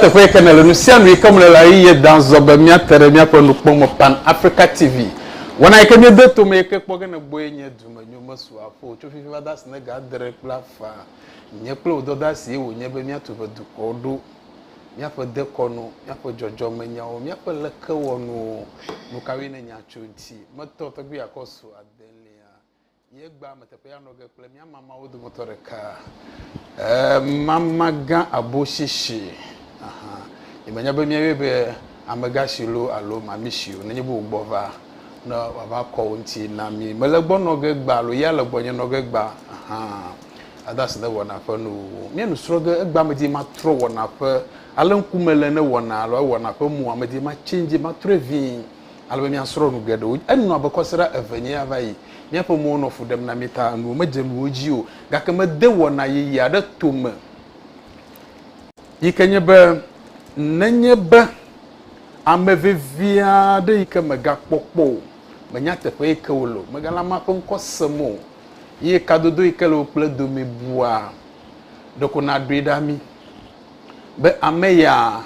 teƒe yike ne le nu sia nu yike mele la eye dan zɔ be míate ɖe míaƒe nukpɔmɔ pan africa tv wɔna yike míede tome yike kpɔ ge ne gbɔe nye dumenyo mesu aƒo tso fifi va da si ne ga adre kple afã nye kple wò dɔda si ye wònye be míatu ʋe dukɔwo ɖo míaƒe dekɔnu, míaƒe dzɔdzɔmenyawo, míaƒe lekewɔnuwo. Nukawoe nye nya tso ŋti metɔ tɔgbi akɔ su adelia ye gbea me teƒe anɔ ge kple mía mamawo dometɔ ɖeka? Ee, mama gã aboshishi. Ahan. Yemenya be míayɔe be amegã si loo alo mami si o, nenye be wò gbɔ va, ne wòava kɔ wò ŋuti na mí. Mèle egbɔ nɔ ge gbã alo ya le gbɔnye nɔ ge gbã hã ade asi ne wɔna ƒe nu wu wò. Míenɔ srɔ̃ ge egbea medi matrɔ wɔna ƒe ale ŋku mele ne wɔna alo ewɔna ƒe mu o, medi ma change matrɔe vĩ ale be míasrɔ̃ nu geɖewo. Enɔ abe kɔsiɖa eve nye ya va yi. Míaƒe mowo nɔ fu ɖem na mí ta enuwo medze nuwo dzi o gake mede wɔna yeye aɖe tome. yi ke nye be nenye be ame vevi aɖe yi ke mègakpɔ kpɔ o, mènya teƒe yi ke wole o, mègale amea ƒe ŋkɔ sem o ye kadodo yi ke le wò kple edome bua, ɖeko nàɖoe ɖa mí be ame ya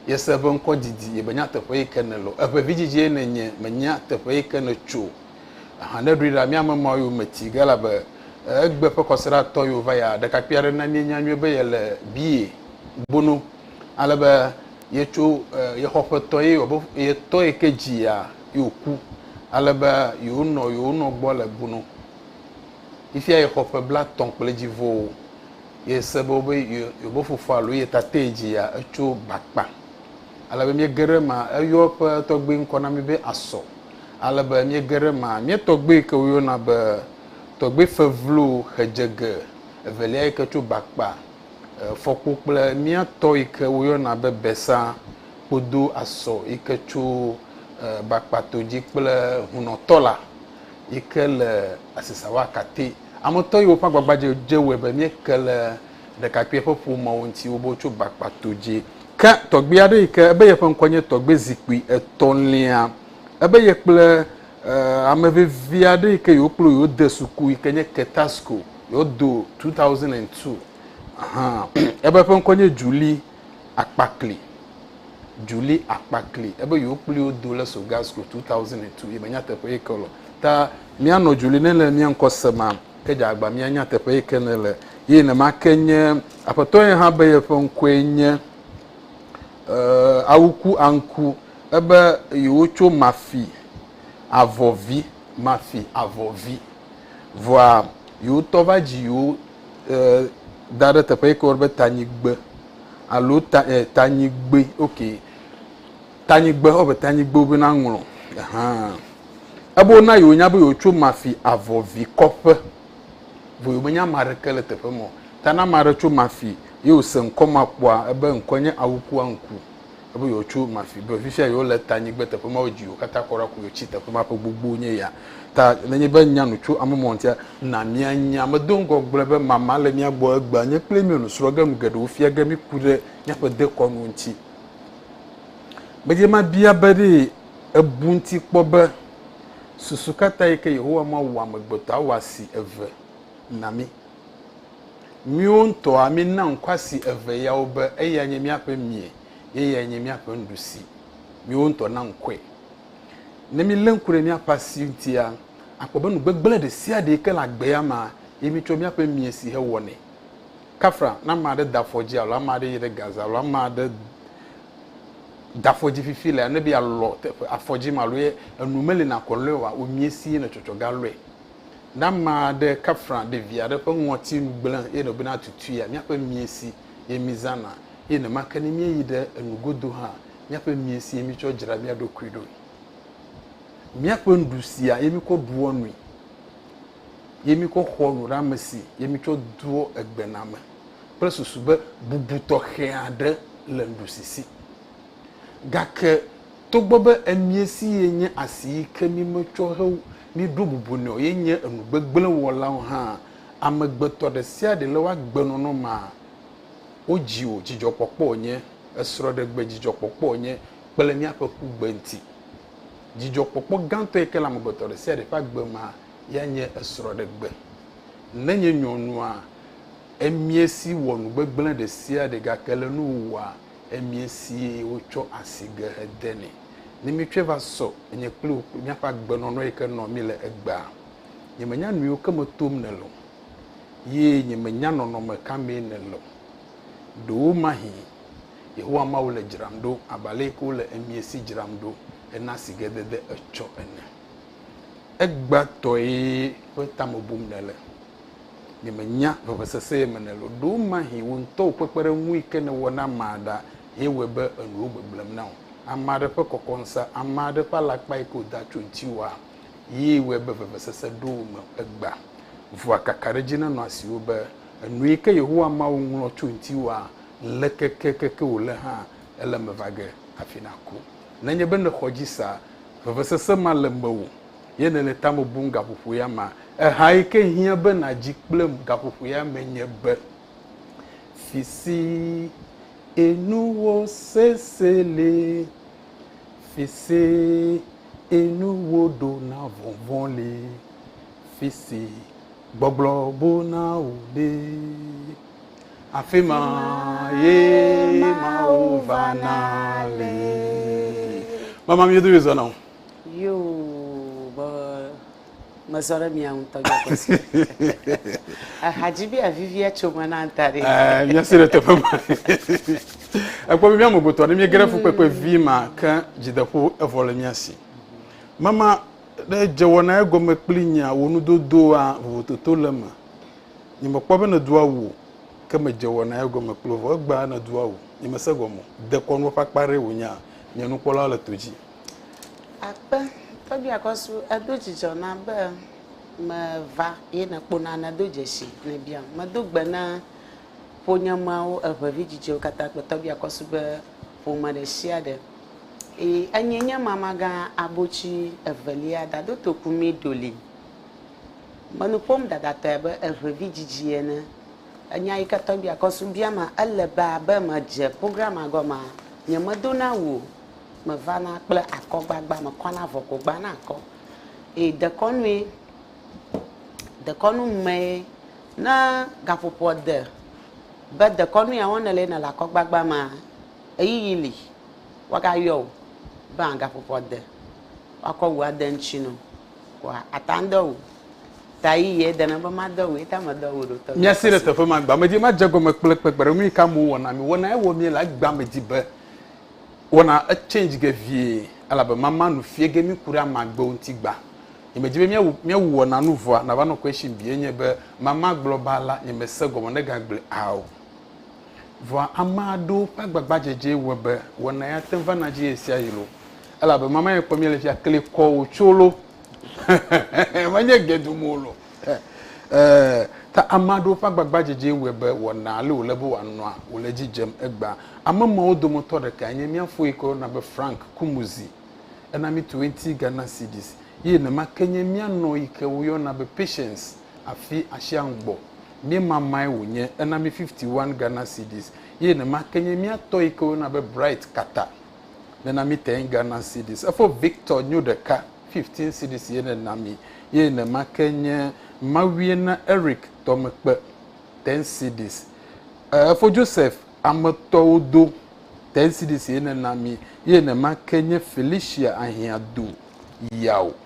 yese eƒe ŋkɔ didi ye mènya teƒe yi ke nele o. Eƒe vidzidzie nènye, mènya teƒe yi ke nètso o. Ahan ne ɖoe ɖa mía memawo yo me ti ge elabe egbe ƒe kɔsiɖa tɔ yo va ya ɖekakpui aɖe na míenya nyuie be yele biye bono ale be ye tso ye xɔ ƒe tɔ ye wɔ be ye tɔ ye ke dzi ya yo ku ale be yo nɔ yo nɔ gbɔ le bono ifia ye xɔ ƒe bla tɔn kple dzi vo ye se be be yo yo be fofo alo ye tate ye dzi ya etso bakpa ale be mie geɖe ma eyɔ ƒe tɔgbe ŋkɔ na mi be asɔ ale be míege ɖe ema. Mía tɔgbui yi ke woyɔna be tɔgbui Fevlo Xedzege evelia yi ke tso Bakpa, Fɔkpo kple mía tɔ yi ke woyɔna be Besa Kpodo Asɔ yi ke tso Bakpa to dzi kple Hunɔ tɔ la yi ke le Asisawa Kate. Ametɔ yiwo ƒe agbagbadzedze wɔe be míeke le ɖekakpuia ƒe ƒomewo ŋuti wobo tso Bakpa to dzi. Ke tɔgbui aɖe yi ke ebe yeƒe ŋkɔ nye Tɔgbui Zikpui Etɔ̃lia, ebe ye kple eh, ame vevi aɖe yi ke yewokplɔ yewode suku yi ke nye Ketasco, yewodo 2002. Aha, ebe eƒe ŋkɔ nye Julie Akpakli. Julie Akpakli, ebe yewokpli wo do le Sogasco 2002, yebe nyateƒe yi ke lɔ. Ta míanɔ Julie ne le mía ŋkɔ sema. Ke dze agba míanya teƒe yi ke nèle, ye nema ke nye Aƒetɔ ye hã be yeƒe ŋkɔe nye Awuku Anku, ebe yewotso Mafi avɔ vi, Mafi avɔ vi, vɔa yewotɔ va dzi yewo da ɖe teƒe yi ke woyɔna be Tanyigbe alo Tanyigbe, ok. Tanyigbe, ɔ be tanyigbe wo be na ŋlɔ, ahan. Ebe wo na yi wo nya be yo tso mafi avɔ vi kɔƒe, vɔ yo me nya ma ɖeke le teƒe mɔ, ta na ma ɖe tso mafi, ye wo se ŋkɔ ma kpɔa, ebe ŋkɔ nye awukua ŋku, ebe yo tso mafi, be fifia yo le tanyigbe teƒe ma wo dzi yo kata kɔɖa ku yo tsi teƒe ma ƒe gbogbo nye ya. Ta ne nye be nya nu tso ame mɔ ŋtia, na mia nya, me do ŋgɔ gblɔe be mama le mia gbɔ egbea, nye kple mio nu srɔ ge nu geɖewo fia ge mi ku ɖe miaƒe dekɔnuwo ŋti. Gbedzi mabia be ɖe èbu ŋuti kpɔ be susu ka tae ke Yehowa Mawu wɔ amegbetɔ awɔasi eve na mí? Míwo ŋutɔa míena ŋkɔ asi eve yawo be eyae nye míaƒe mie ye eyae nye míaƒe nuɖusi. Míwo ŋutɔ na ŋkɔe. Ne mílé ŋku ɖe míaƒe asi ŋutia, akpɔ be nu gbegblẽ ɖesiaɖee ke le agbea mea ye mítsɔ míaƒe mie si hewɔnɛ. Kafra, ne ame aɖe da afɔ dzi alo ame aɖe yi ɖe gaze alo ame aɖe da afɔ dzi fifi lea, ne be yealɔ teƒe afɔ dzi ma alo ye enu meli nakɔ lɔe oa, wòmie si ye netsɔtsɔ ga lɔe. Ne ame aɖe kafra ɖevi aɖe ƒe ŋɔtinu gblẽ eye nɔbe na tutuia, míaƒe mie si ye mízãna, eye nenema ke ne míeyi ɖe enu godo hã, míaƒe mie si ye mítsɔ dzra mía ɖokui ɖoe. Míaƒe nuɖusia ye míkɔ ɖua nui. ye mi kɔ xɔ nu ɖe amesi ye mi tsɔ doɔ egbe na me kple susu be bubu tɔxɛ aɖe le nuɖusi si. Gake togbɔ be emie si ye nye asi yi ke mi me tsɔ he mi ɖo bubu nɛ o ye nye enu gbegblẽ wɔlawo hã, amegbetɔ ɖe sia ɖe le wo agbe nɔnɔ mea, wo dzi o dzidzɔkpɔkpɔ nye, esrɔ̃ɖegbe dzidzɔkpɔkpɔ nye kple miaƒe kugbe ŋuti. Dzidzɔkpɔkpɔ gãtɔe ke le amegbetɔ ɖe sia ɖe ƒe agbe mea, yae nye esrɔ̃ɖegbe. Ne nye nyɔnua emie si wɔ nu gbegblẽ ɖe sia ɖe gake le nu wòwɔa emie sie wotsɔ asi ge hede nɛ. Ne míetsɔe va sɔ nye kple wò kple míaƒe agbenɔnɔ yi ke nɔ mí le egbea, nyemenya nuyiwo ke me tom nèle o, ye nyemenya nɔnɔme ka mee nèle o. Ɖewomahi Yehowa Mawu le dzram ɖo abe aleke wole emie si dzram ɖo hena sigedede etsɔ ene. Egbãtɔe ƒe ta me bum nèle. Nyemenya vevesese ye me nèle o. Ɖewomahi wò ŋutɔ wò kpekpeɖeŋui ke nèwɔ na amea ɖa ye wɔe be enuwo gbegblẽm na wò. Ame aɖe ƒe kɔkɔŋsa, ame aɖe ƒe alakpae ke wòda tso ŋutiwòa, yee wɔe be vevesese ɖo wò me egbã. Vɔa kakaɖedzi nenɔ asiwò be, Enue ke Yehowa Mawu ŋlɔ tso ŋutiwòa? lekekekeke wòle hã, ele eme va ge hafi nàku. Nenye be nèxɔ edzi sa, vevesese ma le mewò, ye nèle tame bum gaƒoƒo ya mea, ehae ke hiã be nàdzi kple gaƒoƒo ya me nye be, Fisee nuwò sese le, fisee nuwò ɖona vɔvɔ̃ le, fisee gbɔgblɔ buna wò le. Afima ye mawo vana le. Mama mi yodome zɔna o. Yo be mezɔ ɖe mia ŋutɔ gbɔ kɔsi. Ehadzi be avivia tso me na ŋta ɖi. Ɛɛ mia si ɖe teƒe ma. Ekpɔ be mia mo gotɔ ne mia gere fu kpekpe vi ma ke dzideƒo evɔ le mia si. Mama ɖe dzewɔna egɔme kpli nyia wo nudodoa vovototo le me. Nyemekpɔ be nèdo awu o, ke medze wɔnaa egɔme kple wo. Vɔ egbea nèdo awu. Nyemese gɔme o. Dekɔnu ƒe akpa aɖee wònyea? Nye nukpɔlawo le to dzi. Akpe, tɔgbui Akɔsu, edo dzidzɔ nam be meva ye nèkpona nèdo dzesi nèbiam. Medo gbe na ƒonyemeawo, eŋe vidzidzewo katã kple tɔgbui Akɔsu ƒe ƒome ɖesiaɖe. Ii, enyee nye mamagã abotsi evelia, Dadotoku Midoli. Menu ƒom ɖaɖatɔe abe eŋe vidzidzi ene. Enya yi ke tɔgbi akɔ su bia ma, ele be abe medze programmea gɔmea, nyemedo na wu o. Mevana kple akɔgbagba, mekɔna avɔ ko gbana akɔ. Eye dekɔnue, dekɔnu mee, ne gaƒoƒoa de be dekɔnu ya wɔm nèle ye nèle akɔgbagba mea, ɣeyiɣi li, woagayɔ wò be agaƒoƒoa de, woakɔ wu ade eŋuti na wò. Wa ata ŋdɔ wu. Ta yi ye dena be ma dɔ wu ye ta me dɔ wu ɖo tɔ. Mia si ɖe teƒe ma gba me dzi ma dze gɔme kple kpekpe ɖe nuyi ka mo wɔna mi wɔna ewɔ mi le agba me dzi be wɔna e change ge vie elabe ma ma nu fie ge mi ku ɖe ama gbe wo ŋti gba nye me dzi be mia wu mia wu wɔna nu vɔa na va nɔ question bi enye be ma ma gblɔ ba la nye me se gɔme ne ga gble ao. Vɔa ame aɖewo ƒe agbagbadzedzee wɔe be wɔna ya te ŋu vana dzi ɣesiaɣi loo. Elabe mama ye kpɔm míele fia, kli kɔ wòtso loo. Menye ge dom wò loo. Ɛɛ, ta ame aɖewo ƒe agbagbadzedzee wɔe be wɔna ale wòle be wòanɔa, wòle edzi dzem egbea. Ame mawo dometɔ ɖekae nye mía fo yi ke woyɔna be Frank Kumuzi. Ena mí twenty Ghana cedis. Ye nema ke nye mía nɔ yi ke woyɔna be Patience. Afi asiaŋ gbɔ míemamae wònye, ena mí 51 Ghana cedis, ye nema ke nye mía tɔ yi ke woyɔna be Bright Kata nena mí 10 Ghana cedis. Efo Victor nyo ɖeka 15 cedis ye nena mí, ye nema ke nye mawie na Eric Tɔmekpe 10 cedis. E, efo Joseph Ametɔwo do 10 cedis ye nena mí, ye nema ke nye Felicia Ahiãdo Yao.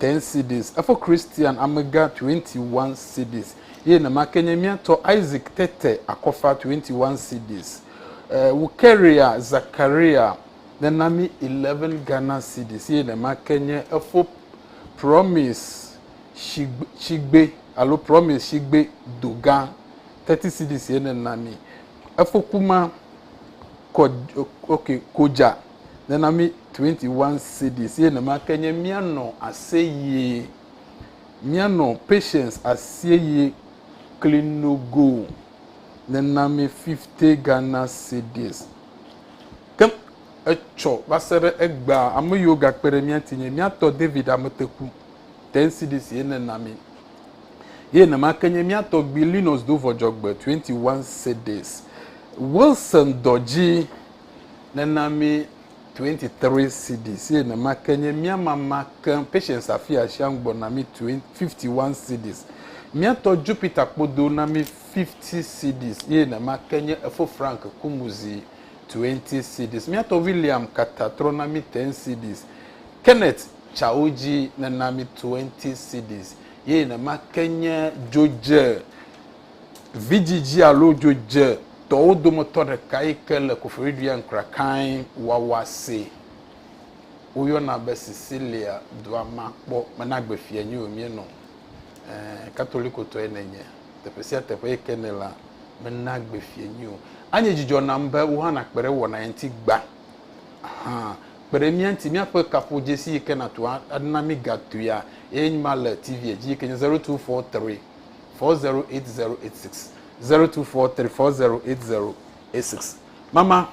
10 cedis, efo Kristian amegã 21 cedis, eye nema ke nye mía tɔ Isaac tete akɔfa 21 cedis. E, Wukeria Zakaria nena mí 11 Ghana cedis, eye nema ke nye efo Promise Shigbe, Shigbe alo Promise Shigbe Dogã 30 cedis ye nena mí. Efo Kuma Kod, ok, Kodja nena mí 21 cedis ye nema ke nye míanɔ aseyie míanɔ Patience aseyie kli nogo nena mí 50 Ghana cedis ke etsɔ va se ɖe egbea ame yiwo gakpe ɖe mía ŋuti nye míatɔ David Ameteku 10 cedis ye nena mí ye nema ke nye míatɔ gbi Linus Dovɔdzɔgbe 21 cedis Wilson Dɔdzi nena mí 23 cedis eye nema ke nye mía mama ke Patience Afia Ashiang gbɔ na mí 51 cedis. Mía tɔ Jupiter Kpodo na mí 50 cedis eye nema ke nye efo Frank Kumuzi 20 cedis. Mía tɔ William Kata trɔ na mí 10 cedis. Kenneth Chaoji nena mí 20 cedis eye nema ke nye Jodje. Vidzidzi alo dzodzetɔwo dometɔ ɖeka yi ke le Koforidua ŋkra kae wawa see. Woyɔna be Sicilia dua ma kpɔ mena gbe fia nyi o mienɔ. Ẽ, Katolikotɔe nènye. Teƒe sia teƒe yi ke nèlea, mena gbe fia nyi o. Anye dzidzɔ nam be wò hã nàkpe ɖe wɔna ya ŋuti gbã. Hã, kpe ɖe mía ŋuti. Míaƒe kaƒodzesi yi ke nàtu ana mí gatuia ye nye ma le TV-a dzi yi ke nye Zero Two Four Three. four zero eight zero eight six zero two four three four zero eight zero eight six mama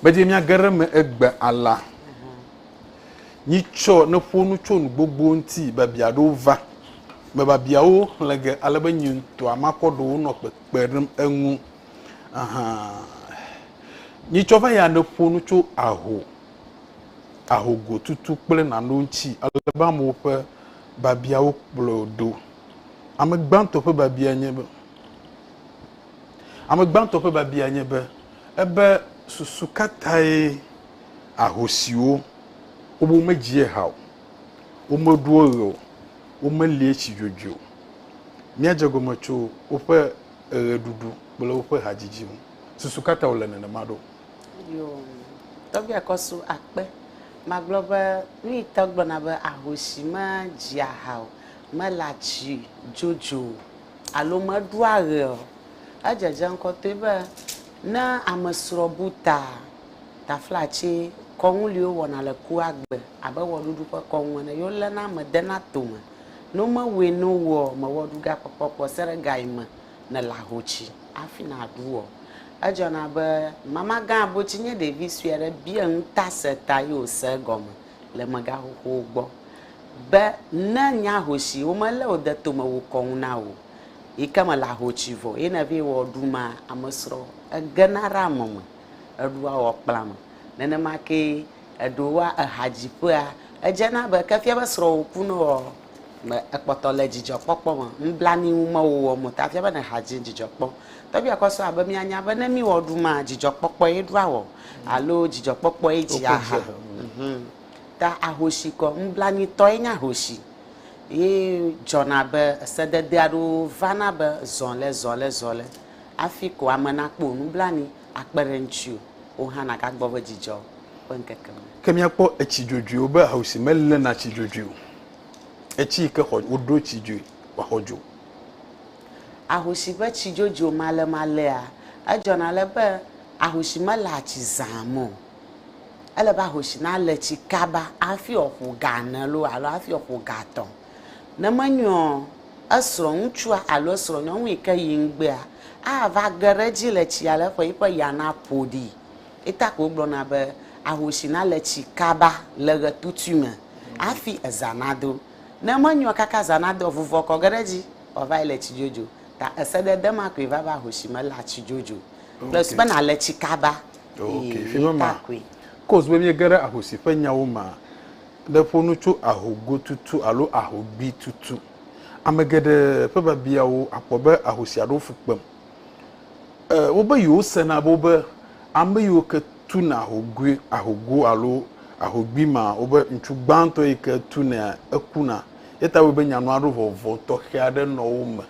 medzi mia geɖe me egbe ala nyi tsɔ ne ƒo nu tso nu gbogbo ŋuti babia ɖewo va me babiawo xlẽ ge ale be nyi ŋutɔa makɔ ɖewo nɔ kpekpe ɖem eŋu nyi tsɔ va ya ne ƒo nu tso aho ahogotutu kple nanewo ŋuti ale be amewo ƒe babiawo kplɔ ɖo. Ame gbãtɔ ƒe babia nye be, ame gbãtɔ ƒe babia nye be, ebe susu ka tae ahosiwo wobe womedzia ha o, womeɖoa ɣe o, womelia tsi dzodzoe o, míadze egɔme tso woƒe ɣeɖuɖu kple woƒe hadzidzi ŋu. Susu ka ta wòle nenema ɖo? Yoo, tɔgbui akɔ su akpe. Magblɔ be nuyi tɔ gblɔna be ahoshi me dzia ha o, me le atsi dzodzo o alo me ɖua ɣe o. Edzedze ŋkɔtɔe be ne ame srɔ bu ta, tafla tsi kɔnu liwo wɔna le kua gbe abe wɔɖuɖu ƒe kɔnu ene yo lena ame dena tome. No me wɔe no woɔ, me wɔɖu ga kpɔkpɔ kpɔ se ɖe ga yi me nèle ahoci hafi nàɖu o. Edzɔna be mamagã abotsi nye ɖevi sue aɖe bia ŋutaseta ye wòse egɔme le mega xoxowo gbɔ be ne nye ahoci womelé wò de tome wu kɔnu na wò o yi ke mèle ahoci vɔ ye ne vɛ wɔ ɖu ma amesrɔ egena ɖe ame me eɖua wɔ kpla me. Nenema kee eɖewoa ehadziƒea edzena be ke fia be srɔwò ku nɔ ɔ. Me ekpɔtɔ le dzidzɔkpɔkpɔ me. Nublanui ŋu mewò wɔm o, ta fia be nèha dzi dzidzɔ kpɔ. Tɔgbuia kɔ srɔ̃a be míanya be ne míwɔ ɖumaa, dzidzɔkpɔkpɔe ɖua wɔ alo dzidzɔkpɔkpɔe dzia ha. Ta ahosi kɔ. Nublanuitɔe nye ahosi ye dzɔna be sedede aɖewo vana be zɔ le zɔ le zɔ le hafi ko ame nakpɔ wò nublanui akpe ɖe ŋutiwò. wò hã nàgagbɔ be dzidzɔ ƒe ŋkeke me. Ke míakpɔ etsi dzodzroewo be ahosi meléna tsi dzodzroe o, etsi yi ke xɔ woɖo tsi dzoe wòaxɔ dzo. Ahosi ƒe tsi dzodzro malemalea, edzɔna ale be ahosi meléa tsi zã me o. Ele be ahosi nalé tsi kaba hafi wòaƒo ga ene loo alo hafi wòaƒo ga etɔ̃. Ne menyo ɔ, esrɔ̃ŋutsua alo esrɔ̃nyɔnu yi ke yi ŋgbea ava ge ɖe edzi le tsia le eƒe yiƒe ya naƒo ɖi. Ye ta ko wogblɔna be, Ahosi nale tsi kaba le ɣetutui me hafi eza nado. Ne menyo ɔ, kaka eza nado ɔ, vuvɔ kɔ ge ɖe edzi wòava yi le tsi dzodzo. Ta esedede ma koe va be ahosi melea tsi dzodzo kple su be nale tsi kaba. Ee, ye ta koe. Kos be miege ɖe ahosi ƒe nyawo mea, ɖe ƒo nu tso ahogotutu alo ahogbitutu. Ame geɖe ƒe biabiawo akpɔ be aho sia ɖo fu kpem. E, wobe yewosena be wobe ame yiwo ke tuna ahogoe, ahogo alo ahogbi ma, wobe ŋutsu gbãtɔ yi ke tunea ekuna. Eya ta wɔe be nya nɔa ɖo vɔvɔ tɔxɛ aɖe nɔ wo me.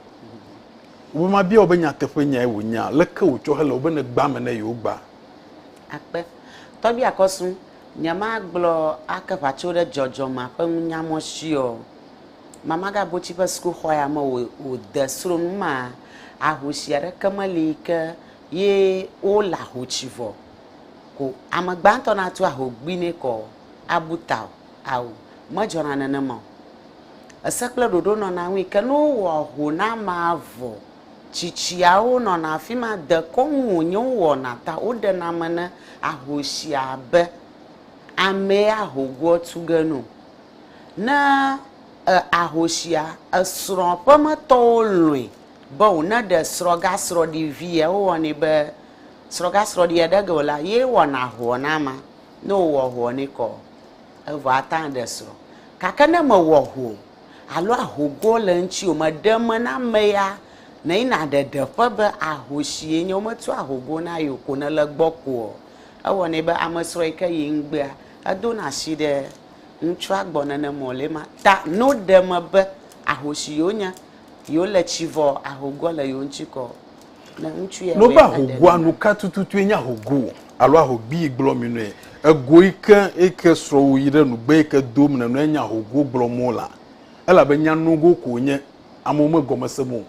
Wobe mabia wò be nyateƒe nyae wònyea? Leke wòtsɔ hele wò be ne gbã ame ne yewogba? Akpe. Tɔgbi akɔsu. Nyemagblɔ ake ʋatso ɖe dzɔdzɔmea ƒe nunya mɔ si ɔ. Mamagabotsi ƒe sukuxɔ ya me o o de sro nu ma ahosi aɖeke meli yi ke ye wo le ahotsi vɔ ko ame gbãtɔ natu ahogbi ne kɔ abu ta o. Ao, medzɔna nenema o. Ese kple ɖoɖo nɔna ŋui ke ne wowɔ ho na amea vɔ tsitsiawo nɔna afi ma, dekɔnu wònye wowɔna ta woɖena ame ne ahosi abe amee ahogoɔ tu ge nu. Ne e ahosia, esrɔ̃ ƒemetɔwo lɔ̃e be wòneɖe srɔ̃gasrɔ̃ɖivia, wowɔnɛ be srɔ̃gasrɔ̃ɖia ɖe ge wòlea, ye wɔna ahoɔ na amea. Ne wòwɔ ahoɔ nɛ kɔ, evɔ ate ŋu aɖe srɔ̃. Gake ne mewɔ ahoɔ o, alo ahogo le eŋuti o, meɖe me na ame ya, ne yi naɖe ɖeƒe be ahosie nye, wometu ahogo na ye o ko ne le gbɔ koɔ, ewɔnɛ be amesrɔ̃ yi ke yi ŋgbea, edo na asi ɖe ŋutsua gbɔ nene mɔ le ema ta no ɖe me be ahosi yewo nye, yewo le tsi vɔ ahogoa le yewo ŋuti kɔ. Nobe ahogoa nu ka tututue nye ahogo alo ahogbii gblɔ mi nue. Ego yi ke yi ke srɔ̃wò yi ɖe nugbe yi ke dom nènɔe nye ahogo gblɔ mo la elabe nya nogo ko wònye, amewo megɔme se mo o.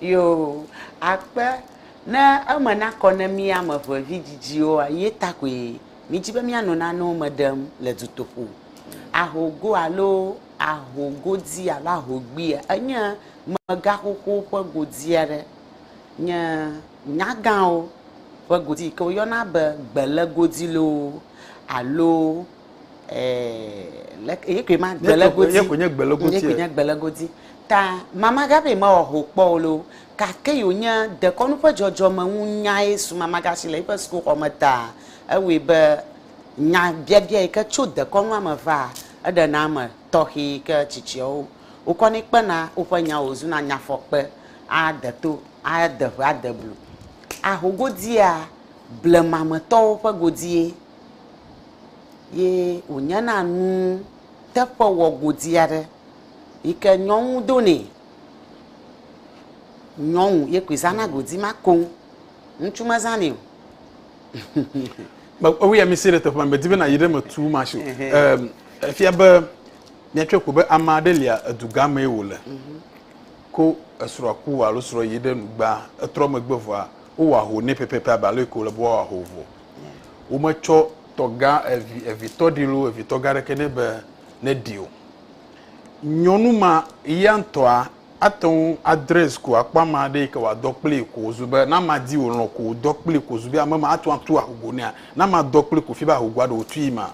Yoo, akpe ne eme nakɔ ne mí ame eve vidzidziwoa, ye ta koe mídi be míano nanewo me ɖem le dutoƒo. Ahogo alo. aho godi alo aho gbia enye mega xoxowo ƒe godi aɖe. Nye nyagãwo ƒe godi yi ke woyɔna be gbele godi loo alo ee leke ye koe ma gbele godi. Ye koe nye gbele godi. Ye koe nye gbele godi. Ta Mama Gabi mewɔ ho kpɔ o loo gake yi wonye dekɔnu ƒe dzɔdzɔme ŋu nyae su Mama Gashi le eƒe sukuxɔme taa ewɔe be Nyabiabia yi ke tso dekɔnua me vaa, eɖena ame tɔxɛ yi ke tsitsiawo wokɔnɛ kpena woƒe nyawo wòzuna nyafɔkpe, ade to, ade ʋe, ade blu, aho godia blemametɔwo ƒe godie, ye wònyena nu teƒe wɔgodi aɖe yi ke nyɔnu donɛ. Nyɔnu ye koe zãna godi ma koŋ. Ŋutsu mezãnɛ o. Ewui ami si ɖe teƒe ma medi be nayi ɖe me tu ma si. Ehm efia be miatsɔe ko be ame aɖe lia edugã mee wòle mhm. ko esrɔ̃a ku alo srɔ̃ yi ɖe nugba etrɔ megbe vɔa wowɔ aho nɛ pɛpɛpɛ abe ale ko le be woawɔ aho vɔ. Wometsɔ tɔgã evi evitɔ ɖi lo evitɔ gã aɖeke nɛ be neɖi o. Nyɔnu ma ya ŋutɔa Ate ŋu adress ko akpɔ ame aɖe yi ke wòadɔ kplii ko wòzu be, ne amea di wòlɔ̃ ko wòdɔ kplii ko wòzu be ame ma, ate ŋu atu ahugo nɛa? Ne amea dɔ kplii ko wòfia be ahugoa ɖe wòtui ma?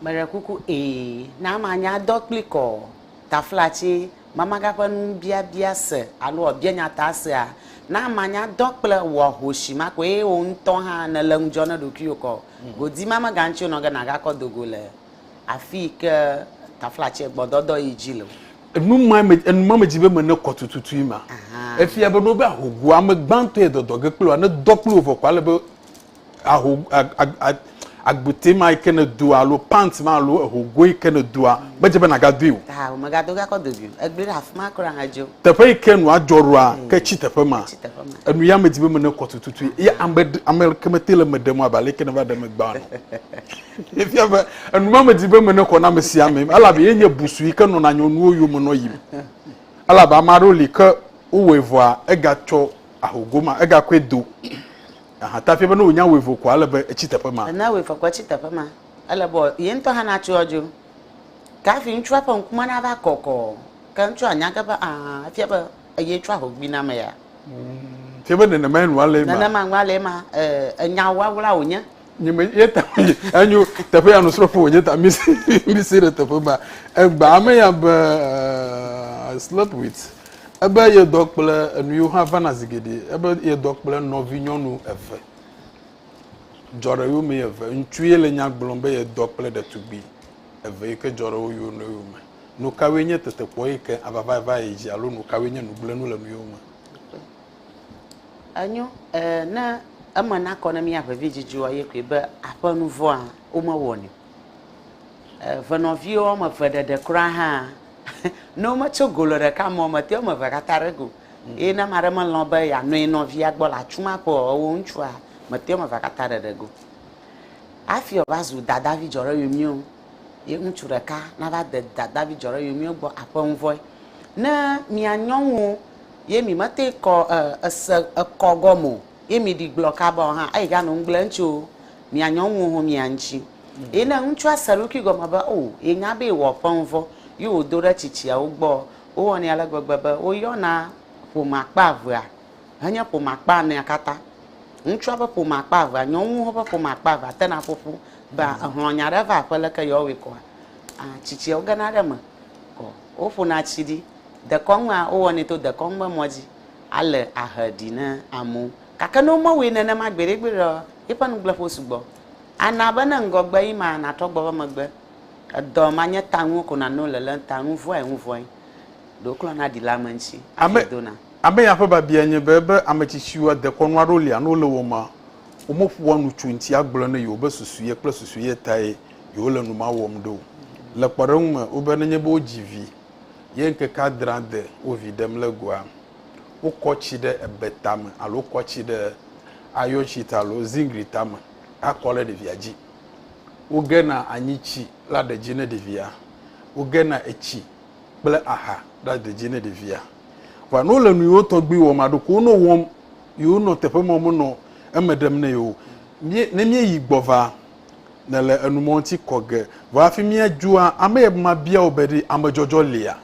Meɖe kuku, Ee. Ne amea nye adɔ kplii ko taflatsi mamaga ƒe nubiabia se alo wòabia nyataa sea, ne amea nye adɔ kple wò ahosi ma ko eye wò ŋutɔ hã nèle ŋudzɔ na ɖokuiwò ko godimamegaŋuti wònɔ ge nàgakɔ do go le Afi yi ke taflatse gbɔdɔdɔ yi dzi le. Enu ma me enu ma medzi be mene kɔ tututui ma. Efia be ne wobe ahogo ame gbãtɔ yɛ dɔdɔ ge kple wòa, ne dɔ kple wò vɔ koa, ele be aho a a a agbute ma yi ke nèdoa alo pant ma alo ahogo yi ke nèdoa medze be nàgadoe o. Aa womegado ge akɔ do gi o. Egblɔe ɖe afi ma kura hedzo. Teƒe yi ke nua dzɔ ɖoa, ke tsi teƒe ma. Tsi teƒe ma. Enu ya medzi be mene kɔ tututui. Ye ame ɖe ame ke mete le eme ɖem o abe ale yi ke nèva ɖe eme gbã ene o. Efia be enumamedi be me nekɔ na ame sia ame, elabe ye nye busu yi ke nɔna nyɔnuwo yome nɔ yim. Elabe ame aɖewo li ke wowɔe vɔa egatsɔ aho goma, egakɔe do. Aha ta efia be ne wònye awu eve koa, ele be etsi teƒe ma. Ne awu eve koa, etsi teƒe ma. Ele be ye ŋutɔ hã natso adzo. Ke hafi ŋutsua ƒe ŋkume nava kɔkɔ. Ke ŋutsua anya ge be aa efia be eye tsɔ ahogui na ame ya. Fia be nenemae nua le ema. Nenema nua le ema. Ee, enya wawla wònye. nye me ye ta enyo teƒe ya nusrɔ̃ƒe wònye ta mi si mi si ɖe teƒe ba egba ame ya be uh, I slept with ebe yedɔ kple enu yiwo hã vana zi geɖe ebe yedɔ kple nɔvinyɔnu eve dzɔ ɖe yome eve ŋutsu ye le nya gblɔm be yedɔ kple ɖetugbui eve yi ke dzɔ ɖe wo yome yome nu kawoe nye tetekpɔ yi ke avava va yi dzi alo nu kawoe nye nugblẽnu le nu yewo me. Enyo, e, ne eme nakɔ ne mía vevidzidzoa ye koe be aƒenuvɔ̃a womewɔnɛ o. E, venɔviwo woame eve ɖeɖe kura hã, ne wometso go le ɖeka me o, metea woame eve katã ɖe go. Eye ne ame aɖe melɔ̃ be yeanɔ ye nɔvia gbɔ le atsu ma ƒe o, ewɔ ŋutsua, metea woame evea katã ɖeɖe go. Hafi wòava zu dadavi dzɔɖeyoemio, ye ŋutsu ɖeka nava de dadavi dzɔɖeyoemio gbɔ aƒenuvɔ̃e. Ne mia nyɔnuwo Ye mi mate kɔ ese ekɔ gɔme o, ye mi ɖi gblɔ kaba o hã, eyi ga nɔ ŋgble ŋtsi o, mia nyɔ ŋ woho mia ŋtsi. Ye ne ŋtsua se eɖokui gɔme be o ye nya be ewɔ ƒe ŋvɔ, yi wo do ɖe tsitsiawo gbɔ ɔ, wo wɔnɛ ale gbegbe be wo yɔna ƒome akpa evea henye ƒome akpa enea kata. Ŋtsua be ƒome akpa evea, nyɔ ŋ woho ƒe ƒome akpa evea te na ƒoƒu be a ehlɔ nya ɖe va aƒe leke yewɔ wɔe kɔa? A tsitsiawo gena ɖe eme kɔ. Woƒona tsi ɖi. Dekɔnua, wowɔnɛ to dekɔnu ƒe mɔ dzi ale ahe ɖi ne amewo. Gake ne womewɔe nenema gbeɖegbeɖe o, eƒe nugbleƒewo sugbɔ. Ana be ne ŋgɔgbe yi ma natrɔ gbɔ be megbe, edɔ ma nye ta nuwo ko nanewo le le ŋta, nu vɔ̃e ŋu vɔ̃e, ɖe woklɔna na ɖila ame ŋuti hafi Ame, dona. ame ya ƒe biabiae nye be, ebe ame tsitsiwoa, dekɔnu aɖewo lia ne wole wɔm ma, womeƒoa nu tso eŋuti agblɔ ne yewobe susu ye kple susu ye tae yewole nu ma wɔm ɖo. Le kpɔɖeŋu me, wobe nenye be wodzi vi ye ŋkeke adrea de wo vi ɖem le goa, wokɔ tsi ɖe ebe tame alo wokɔ tsi ɖe ayɔtsi ta alo zingli tame akɔ ɖe ɖevia dzi. Wogena anyi tsi la ɖe dzi ne ɖevia. Wogena etsi kple aha la ɖe dzi ne ɖevia. Vɔa ne wole nu yewo tɔgbi wɔm alo ɖeko wonɔ wɔm yewonɔ teƒe ma menɔ eme ɖem ne yewo. Ne míeyi gbɔ va nèle enumɔŋti kɔ ge, vɔ hafi míadzua ame ye be mabia wò be ɖe amedzɔdzɔ lia?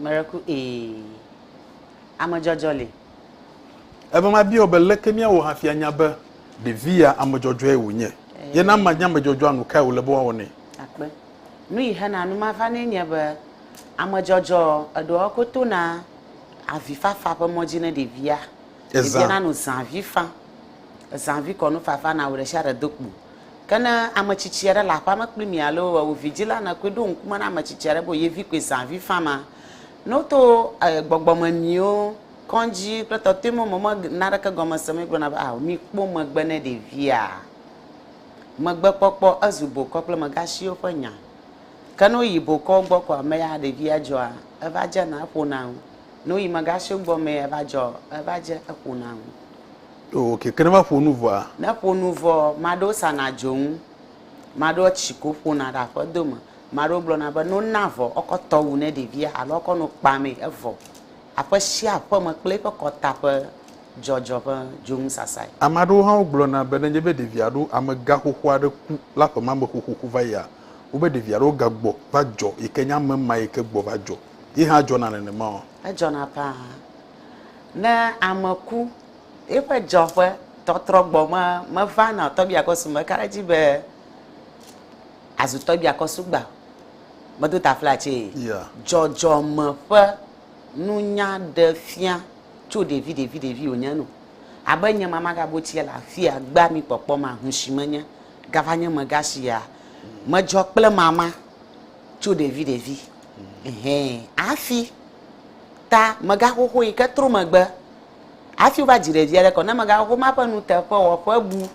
Meɖe ku ee, amedzɔdzɔ li. Ebe mabia wò be leke míawɔ hafi anya be ɖevi ya amedzɔdzɔe wònye? Ye ne amea nye amedzɔdzɔa, nu kae wòle be woawɔ nɛ? Akpe. Nu yi hena nu ma va nɛ nye be amedzɔdzɔ eɖewoa wokɔ tona avifafa ƒe mɔ dzi ne ɖevia Ezã. Ebia na nu zãvi fa. Ezãvi kɔ nufafa na ame ɖe sia ɖe do kpo. Ke ne ame tsitsi aɖe le aƒea me kpli mi alo ewò vidzila nèkɔe ɖo ŋkume na ame tsitsi aɖe be ye vi koe zãvi fa ma, ne woto gbɔgbɔmemiwo, kɔdzi kple tɔtɔemewo me me naneke gɔme se me gblɔna be, Ao, mikpɔ megbe ne ɖevia. Megbekpɔkpɔ ezu bokɔ kple megasiwo ƒe nya. Ke ne woyi bokɔwo gbɔ ko amea, ɖevia dzɔa, eva dzena eƒo na ŋu. Nu yi mega sue gbɔ me eva dzɔ eva dze eƒo na ŋu. Ɖo wò keke ne va ƒo nu vɔa. Ne ƒo nu vɔ, maɖewo sana dzonu, maɖewo tsi ko ƒona ɖe aƒedo me, maɖewo gblɔ na be no na vɔ ɔkɔ tɔ wu ne ɖevia alo ɔkɔ no kpa me evɔ. Aƒe sia aƒe me kple eƒe kɔta ƒe dzɔdzɔ ƒe dzonu sasae. Ame aɖewo hã wo gblɔ na be ne nye be ɖevi alo ame gã xoxo aɖe ku la ƒe ma me xoxoxo va yia, wo be ɖevi alo ga gbɔ va dzɔ yi ke nye ame ma yi ke gbɔ va dzɔ. Ye hã dzɔna nenemaɔ? Edzɔna ƒãa. Ne ame ku, yeƒe dzeɔƒe tɔtrɔ gbɔ me meva na tɔgbiakɔsu meka ɖe edzi be azu tɔgbiakɔsu gba o. Medo taflatsee. Yeah. Dzɔdzɔme ƒe nunya ɖe fia tso ɖevi ɖevi ɖevi wònye nu. Abe nye mama gabo tsia le afia gbea mi kpɔkpɔ ma, hushi menye gava nye mega shia medzɔ kple mama. Tso ɖevi ɖevi hɛ hafi ta megaxoxo yi ke tro megbe hafi wova dzi ɖevia ɖe kɔ. Ne megaxoxo ma ƒe nuteƒewɔƒe bu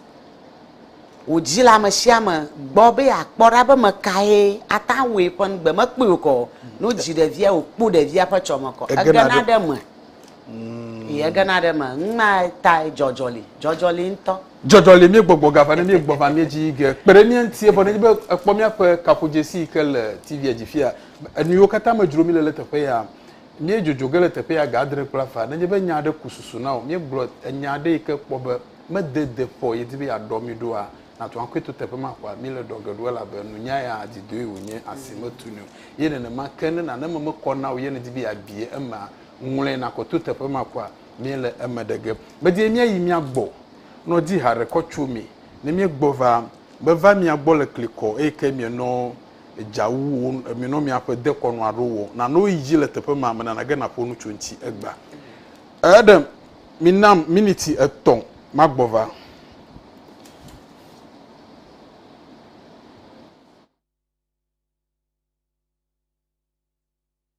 wò dzi le ame sia ame gbɔ be yeakpɔ ɖa be ame kae ate ŋu awɔe ƒe ŋugbe mekpɔe o kɔ o. Ne wodzi ɖevia wòkpɔ ɖevia ƒe tsɔme kɔ, egena ɖe eme. Egena ɖe eme. Nu ma tae dzɔdzɔ li. Dzɔdzɔ li ŋutɔ. Dzɔdzɔ le mie gbɔgbɔ gava ne mie gbɔ va mie dzi ge kpe ɖe mie ŋuti evɔ ne dzi be ekpɔ miaƒe kaƒodzesi yi ke le TV a dzi fia enu yiwo katã me dzro mi le le teƒe ya mie dzodzo ge le teƒe ya ga adre kple afã ne dzi be nya aɖe ku susu na wò mie gblɔ enya aɖe yi ke kpɔ be me de de ƒɔ ye di be ya ɖɔ mi ɖoa na tu aŋkɔe to teƒe ma ƒɔa mi le ɖɔ ge ɖo elabe nu nya ya dzi doe wò nye asi me tu ni o ye nenema ke ne nane me me kɔ na wò ye ne dzi be ya bie ema ŋlɔe na kɔ to teƒe ma ƒɔa Míele eme ɖe ge. Medie míayi mía gbɔ nɔ di haɖe kɔ tso mi. Ne míegbɔ va, meva mia gbɔ le klikɔ, eye ke mienɔ edza wu wo, mienɔ miaƒe dekɔnu aɖo wɔ. Nano yi dzi le teƒe ma, menana ge naƒo nu tso ŋuti egbea. Ẽ, ɖe minam miniti etɔ̃ magbɔ va.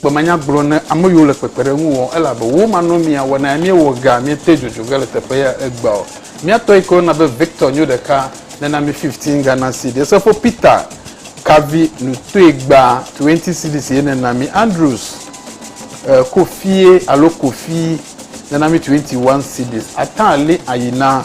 Kpemanya gblɔ ne ame yiwo le kpekpeɖeŋu wɔm elabe wo manɔmea wɔ na míewɔ ga míete dzodzo ge le teƒe ya egbea o. Mía tɔ yi ke woyɔna be Victor nyo ɖeka nena mí fifteen Ghana cedis. Efo Peter kavi nu toe gba twenty cedis ye nena mí. Andrews e Kofie alo Kofi nena mí twenty one cedis. Atan li ayi na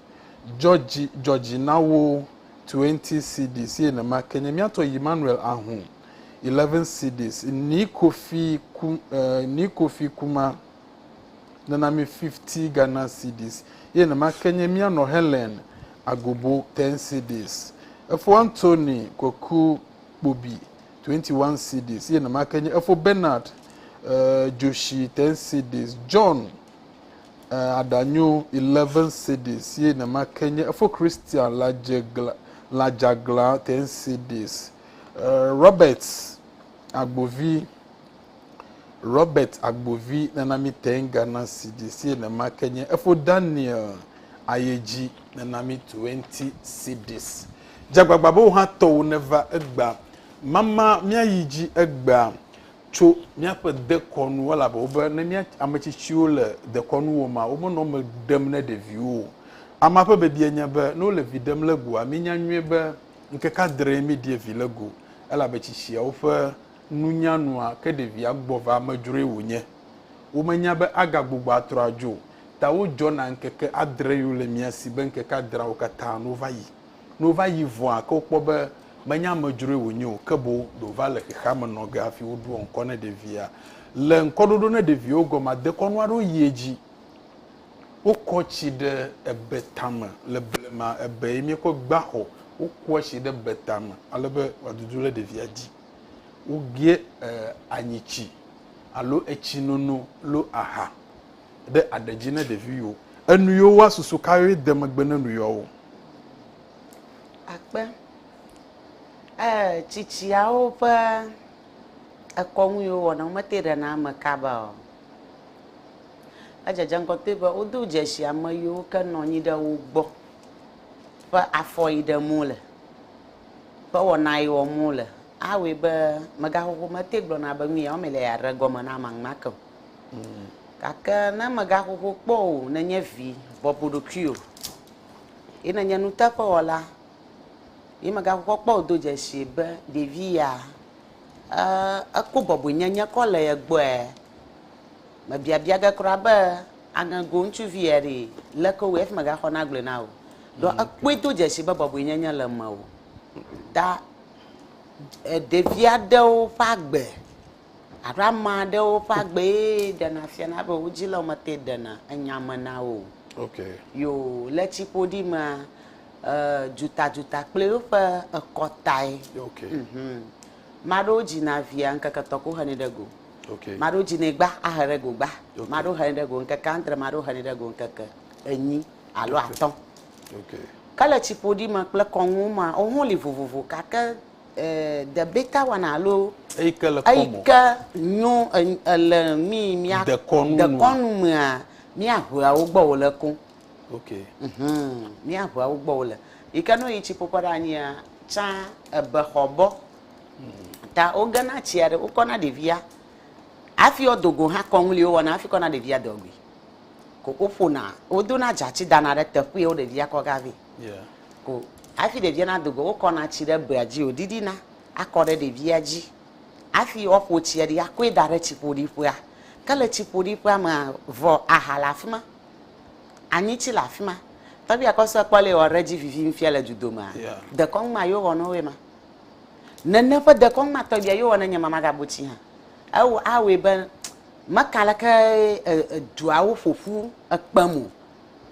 Dzɔ dzi, dzɔ dzi na wo, 20 cedis, ye nema ke nye mía tɔ Yimmanuel Ahun, 11 cedis, Nii Kofi Ku, eh, Nii Kofi Kuma nana mí 50 Ghana cedis, ye nema ke nye mía nɔ Helen Agobo, 10 cedis, Efo Anthony Kweku Kpobi, 21 cedis, ye nema ke nye Efo Bernard, eh, Joshi, 10 cedis, John E aɖanyo eleven cedis ye nema ke nye efo Christian lajegla lajagla ten cedis e Robert agbovi Robert agbovi nena mi ten Ghana cedis ye nema ke nye efo Daniel ayedzi nena mi twenty cedis dzagbagba be wohatɔwo neva egbea mama miayi dzi egbea tso míaƒe dekɔnu elabe wobe ne mía ame tsitsiwo le dekɔnu wɔma womenɔ me ɖem ne ɖeviwo o. Amea ƒe bibia nye be ne wole vi ɖem le goa mínya nyuie be ŋkeke adree míɖie vi le go elabe tsitsiawo ƒe nunya nua ke ɖevia gbɔ va amedzroe wònye. Womenya be agagbugbɔ atrɔ adzo o ta wodzɔna ŋkeke adre yole mía si be ŋkeke adreawo katã no va yi. Ne wova yi vɔa ke wokpɔ be menye amedzroe wònye o, ke boŋ ɖe wòva le xexeame nɔ ge hafi woɖoa ŋkɔ ne ɖevia. Le ŋkɔɖoɖo ne ɖeviwo gɔmea, dekɔnu aɖewo yia edzi. Wokɔ tsi ɖe ebe tame. Le blema, ebee míekɔ gbea xɔ. Wokɔa tsi ɖe ebe tame ale be wòadudu ɖe ɖevia dzi. Wogeɛ e anyitsi alo etsinono lo aha. ɖe aɖe dzi ne ɖeviwo. Enu yiwo woa susu ka ye de megbe ne nu yɔwo? Akpe. Ee, tsitsiawo ƒe ekɔnu yiwo wɔna wo mete ɖe na ame kaba o. Edzedze ŋgɔ toe be wodo dzesi ame yiwo ke nɔ anyi ɖe wo gbɔ ƒe afɔ yi ɖem wo le, ƒe wɔna yi wɔm wo le. Awɔe be megaxoxo mete gblɔna be nu ya wɔm mele yeaɖe egɔme na ame enumake o. Gake ne mègaho ho kpɔ o, nènye vi bɔbɔ ɖokuiwò, ye nènye nuteƒewɔla, ye mègaho ho kpɔ o, do dzesii be ɖevi ya, ekpɔ bɔbɔenyenye kɔ le ye gbɔe. Mebiabia ge kura be, aŋego ŋutsuvi ye ɖi, leke wowɔe hafi megaxɔ nagblɔe na wò? Ɖɔ ekpɔe do dzesii be bɔbɔenyenye le mewò. Da ɖevi aɖewo ƒe agbe. Alo ame aɖewo ƒe agbee ɖena fiana be wo dzi le womete ɖena enya me na wo o. Okay. Yo le tsiƒoɖi mea, e, dzuta-dzuta kple woƒe ekɔ tae. Okay. Mhm. Maɖewo dzina via ŋkeke tɔ ko henɛ ɖe go. Okay. Maɖewo dzinɛ gba ahe ɖe go gba. Okay. Maɖewo henɛ ɖe go ŋkeke adre, maɖewo henɛ ɖe go ŋkeke enyi alo atɔ̃. Okay. Ke le tsiƒoɖi me kple kɔnuwo mea, wohã woli vovovo gake eh, debeta wana alo Eyi ke le kɔ eyi mɔ. ke nyo en- ele mi mia Dekɔnu nua. dekɔnu mea míaʋea wo gbɔ wòle koŋ. Ok. Mhm, míaʋea wo gbɔ wòle. Yi ke ne woyi tsi ƒoƒe ɖe anyia, tsã ebexɔ bɔ ta wogena tsia ɖe wokɔna ɖevia hafi woado go hã kɔŋli wowɔna hafi kɔna ɖevia dɔgui. Ko woƒona wodona dzatsi dana ɖe teƒee wo ɖevia kɔ ga vɛ. o. Hafi ɖevia nado go, wokɔna tsi ɖe bea dzi wòɖiɖina akɔ ɖe ɖevia dzi. Hafi woaƒo tsia ɖi akɔe da ɖe tsiƒoɖiƒea. Ke le tsiƒoɖiƒea mea, vɔ aha le afi ma, anyitsi le afi ma. Tɔgbui Akɔsue kpɔ le wɔ ɖe edzi vivi ŋfia le dudomea? Dekɔnu ma ye wowɔ na woe ma. Nene ƒe dekɔnu ma tɔgbuia ye wowɔ na nye mama gabo tsi hã. Ewɔ awɔe be meka leke duawo ƒoƒu ekpem o.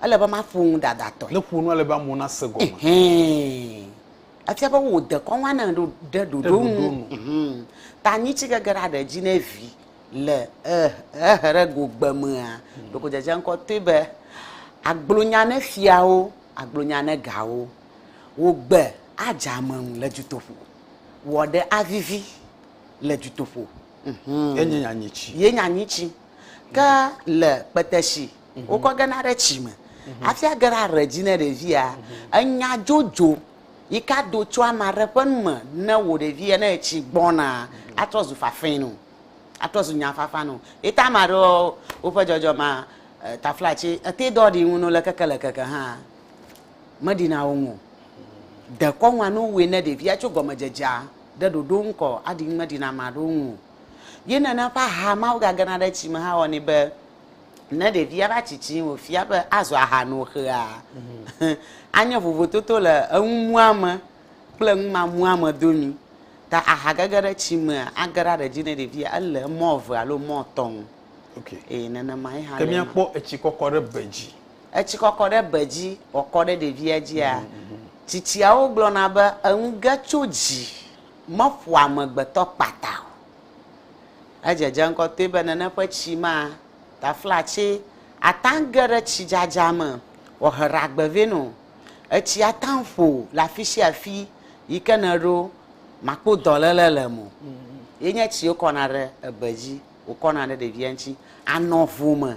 Ele be maƒo nu dadatɔe. Ne ƒo nua le be amewo nase gɔme. Ɛhɛɛ. Etia be wò dekɔnu anɔ ɖe ɖoɖo nu. Ta nyi ci gege ɖe aɖe edzi ne vi le eherego gbe mea, ɖeko dzedze ŋkɔ toe be agblɔ nya ne fiawo, agblɔ nya ne gawo. Wò gbe adze ameŋu le dutoƒo. Wò aɖe avivi le dutoƒo. Enye nya nyi ci. Ye nya nyi ci. Ke le kpete shi wokɔ gena ɖe tsi me hafi age ɖe aɖe dzi ne ɖevia. Enya dzodzo yi ke ado tso ame aɖe ƒe nu me ne wò ɖevia ne etsi gbɔna atrɔ zu fafɛ nɛ o, atrɔ zu nyafafa nɛ o. Ye ta ame aɖewo woƒe dzɔdzɔmea e taflatsi ete dɔ ɖi ŋu no le keke le keke hã meɖi na wo ŋu o. Dekɔnu alo wɔe ne ɖevia tso gɔmedzedzea ɖe ɖoɖo ŋu kɔ aɖi ŋu meɖi na ame aɖewo ŋu o. Ye nene ƒe aha ma wogagena ɖe tsi me hã wɔnɛ be Ne ɖevia va tsitsi wòfia be azɔ aha no xea, anye vovototo le eŋumuame kple eŋumamuame domi. Ta aha gege ɖe tsi mea, age ɖe aɖe dzi ne ɖevia ele emɔ eve alo emɔ etɔ̃ ŋu. Okay. Eye nenema ye hã Ke le ema. míakpɔ etsi kɔkɔ ɖe be dzi. Etsi kɔkɔ ɖe be dzi wòakɔ ɖe ɖevia dzia, tsitsiawo gblɔna be enu ge tso dzi meƒoa amegbetɔ kpata o. Edze dze ŋgɔ toe be nene ƒe tsi ma taflatse ata ge ɖe tsidzadza me wòahe ɖagbe vɛ nɔ. Etsi ata ƒo le afi sia afi yi ke nèɖo makpo dɔléle le eme o. Ye nye tsi wokɔna ɖe ebe dzi, wòkɔna ɖe ɖevia ŋuti, anɔ vo me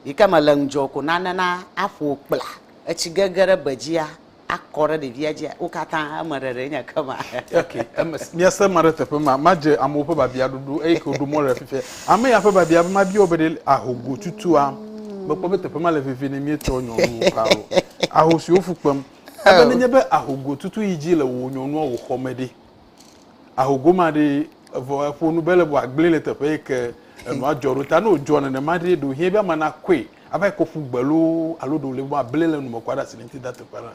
yi ke mele ŋudzɔ o ko nane na aƒo kpla. Etsi gege ɖe be dzia. akɔ ɖe ɖevia dzi wo katã eme ɖeɖe nye ke ma. ok eme miase ma ɖe teƒe ma madze amewo ƒe babia ɖoɖo eyi ke woɖo mɔ ɖe fifia ame ya ƒe babia be mabia wo be ɖe ahogo tutua mekpɔ be teƒe ma le vevie ne mietsɔ nyɔnuwo ka o ahosi wo fu kpem ebe nenye be ahogo tutu yi dzi le wò nyɔnua wò xɔ me ɖe. ahogoma ɖe evɔ eƒo nu be le bɔ agblẽ le teƒe yi ke enua dzɔ ɖo ta ne wòdzɔ nenema ɖe ɖo hiɛ be ama nakɔe ava yi kɔƒu gbe loo alo ɖo le bɔ ablẽ le nu me kɔ aɖe asi le ŋuti da teƒe la.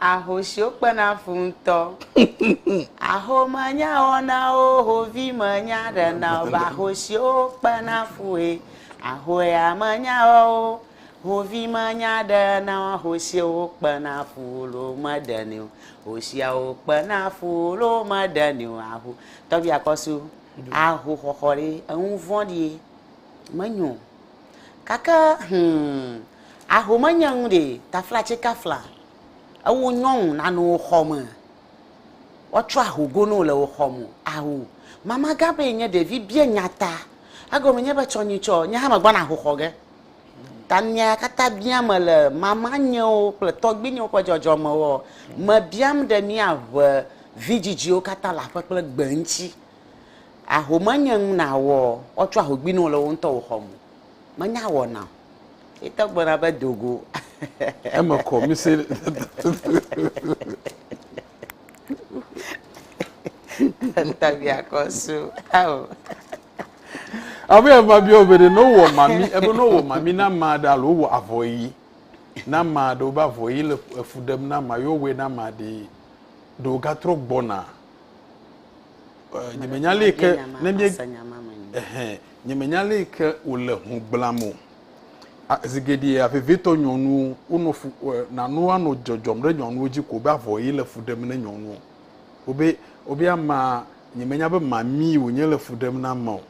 Ahosiwo kpena fu ŋutɔ. Ahomenya wɔna wo hovimenya ɖena o ba ahosiwo kpena fue. Ahoea menya wɔwo Hovi menya ɖe na hosiwo kpena fu lo meɖenɛ o. Hosiawo kpena fu lo meɖenɛ o. Aho tɔgbi akɔsu aho xɔxɔ ɖe eŋu vɔɖi menyo. Kake hum aho menye ŋu ɖe tafla tse kafla ewo nyɔnu nanu wo xɔ me. Woatsɔ aho go no le wo xɔ mo. Aho mama gã be enye ɖevi bia nyata. Egome nye be tsɔ nyitsɔ nye hã me gbɔna aho xɔ ge. Tanya katã biam mele mamanyewo kple tɔgbuinyewo ƒe dzɔdzɔmewoa? Mebiam ɖe míaʋe vidzidziwo katã le aƒe kple gbe ŋuti? Ahome nye nu nàwɔ woatsɔ ahogui na wò le wò ŋutɔ wò xɔ me? Menya wɔna o. Ye tɔ gblɔna be, Do go. Eme kɔ, mise. Abe eva bia ɔbe ɖe no wɔ mami ebe no wɔ mami na ma ɖe alo wɔ avɔ yi na ma ɖe wobe avɔ yi le efu ɖem na ma yewo wɔ na ma ɖe ɖe wogatrɔ gbɔna nyemenya le ke ne mi ehɛn nyemenya le ke wòle ho gblam o. Zi geɖea vevitɔ nyɔnuwo wonɔ fu e, nanoa nɔ dzɔdzɔm ɖe nyɔnuwo dzi ko be avɔ ye le fu ɖem ne nyɔnuwo. Wobe wobe amea nyemenya be mamee wònye le fu ɖem na ame o.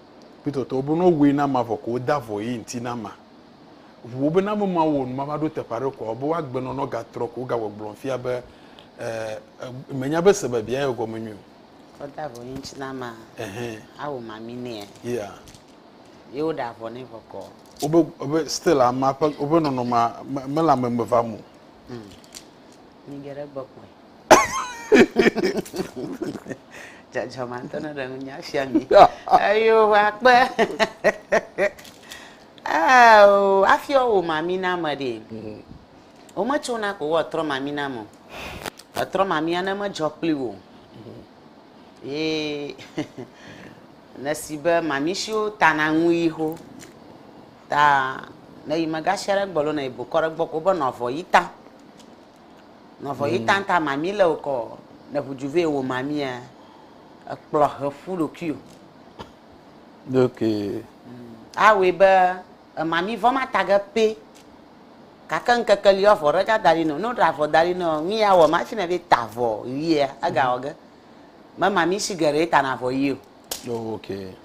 Kpɔtɔtɔ wobe ne wowɔe na amea vɔ ko wode avɔ ye ŋuti na amea. Ŋu wobe ne ame ma wɔ nu ma va ɖo teƒe aɖe koa wobe woagbenɔ ne wogatrɔ ko wogawɔe gblɔm fia be e, e menya be sebebia ye gɔme nyuie o. Wode avɔ ye ŋuti na amea, Ɛhɛn. awɔ mamee nɛ. Yeah. ye woɖe avɔ nɛ bɔkɔɔ. Wobe wobe still amea ƒe woƒe nɔnɔmea me mele ame me vam o. Hmm. Nyi geɖe gbɔkpɔe. Dzadzɔma ŋutɔ ne ɖe ŋunya fia mi. Eyo akpe. Eo afiɔ wo mami na me ɖe. Hmm. Wometsona ko woatrɔ mami na me. Etrɔ mamia ne medzɔ kpli wo. Hmm. Yee nèsi be mamishiwo tana ŋu yi xo ta ne yi megashi aɖe gbɔ lo ne yi bokɔ ɖe gbɔ ko be nɔvɔ yi ta. Nɔvɔ yi ta ta mami le wokɔ ne ʋujuve wo mamia ekplɔ heƒu ɖokuiwo. Ɖokui. Awɔe be. Ema mi vɔ ma tage pɛ. Gake ŋkeke li woavɔ ɖe ga da ɖi nɛ. Ne woɖe avɔ da ɖi nɛ ɔ, nu yi awɔ ma fina be ta avɔ ʋia ega wɔ ge. Mema mi shi geɖe tana avɔ ʋi o. Oh ok.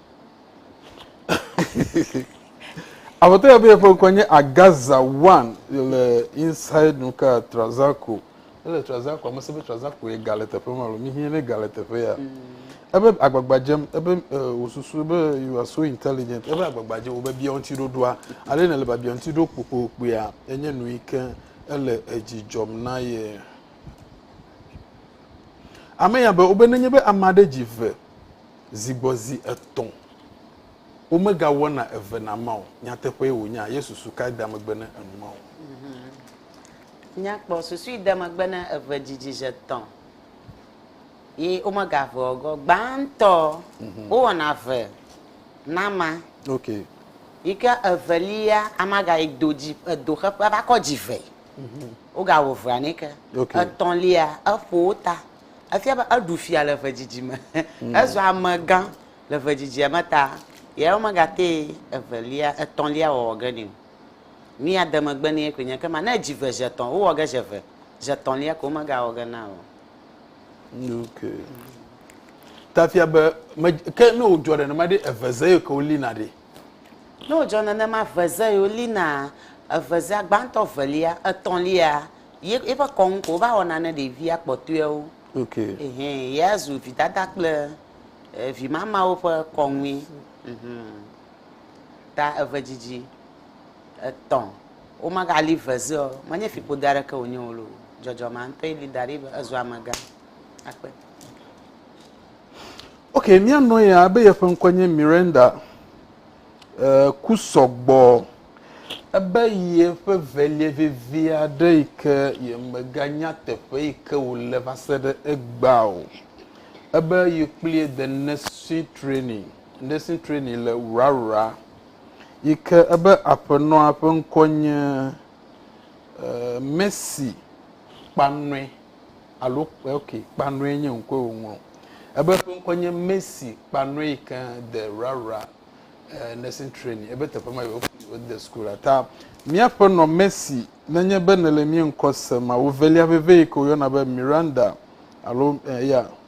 Aƒetɔ ya be yeƒe ŋkɔ nye Agaza One, yele Inside Nuka Trazaco. ele traza ko ame si be traza koe gale teƒe ma alo mihie ne gale teƒe ya ebe agbagba dzem ebe wòsusu be you are so intelligent ebe agbagba dzem wobe bia ŋuti ɖoɖoa ale ne le babia ŋuti ɖo kpokpokpoea enye nu yi ke ele edzi dzɔm na ye ame ya be wobe nenye be ame aɖe dzi ve zi gbɔ zi etɔ̃ womegawɔna eve na ma o nyateƒee wònya yesu su kae da megbe ne enu ma o Nya kpɔ susui de megbe ne eve dzidzi ze tɔ ye wo me ga ve ɔgɔ. Gbãtɔ mhm. wo wɔna ve nama. Ok. Yi ke evelia ama ga yi do dzi edo xe ƒe va kɔ dzi ve. Mhm. Wo ga wo vea ne ke. Ok. Etɔlia eƒo wo ta. Efia be eɖu fia le ve dzidzi me. Mhm. Ezɔ ame gã le ve dzidzi me ta. Ye wo me ga te evelia etɔlia wɔwɔ ge ne o. Nu ya de megbe nɛ koe nye ekema, ne edzi ve zi etɔ̃, wowɔ ge zi eve, zi etɔ̃lia ko womegawɔ ge na o. Ok. Ta fia be, me, ke ne wòdzɔ nenema ɖe, eve ze ye ke wolina ɖe? Ne wòdzɔ nenema, ve ze ye wolinaa. Eve zea, gbãtɔ, evelia, etɔ̃lia, ye, yeƒe kɔnu ko wova wɔna ne ɖevia kpɔtɔewo. Ok. Ehɛ, ye azu vidada kple, e, vimamawo ƒe kɔnue. Mhmh. ta eve dzidzi etɔ̃ womagali ve zeɔ menye fiƒode aɖeke wònye o loo dzɔdzɔ ma ŋutɔe li da ɖi be ezu amegã akpe ok míanɔ ya ebe yeƒe ŋkɔ nye miranda e, ku sɔgbɔ ebe yeƒe velie vevi aɖe yi ke yemeganya teƒe yi ke wòle va se ɖe egbea o ebe yekplie the necessary training Nursing training le Wrarra yi ke ebe aƒenɔa ƒe ŋkɔ nye Mercy Kpanɔe alo ok Kpanɔe nye ŋkɔe wòŋlɔ. Ebe ƒe ŋkɔ nye Mercy Kpanɔe yi ke de Wrarra Nursing training ebe teƒe ma yi wode sukula. Ta míaƒenɔ Mercy nenye be nèle mía ŋkɔ sem, awu velia veve yi ke woyɔna be Miranda alo ya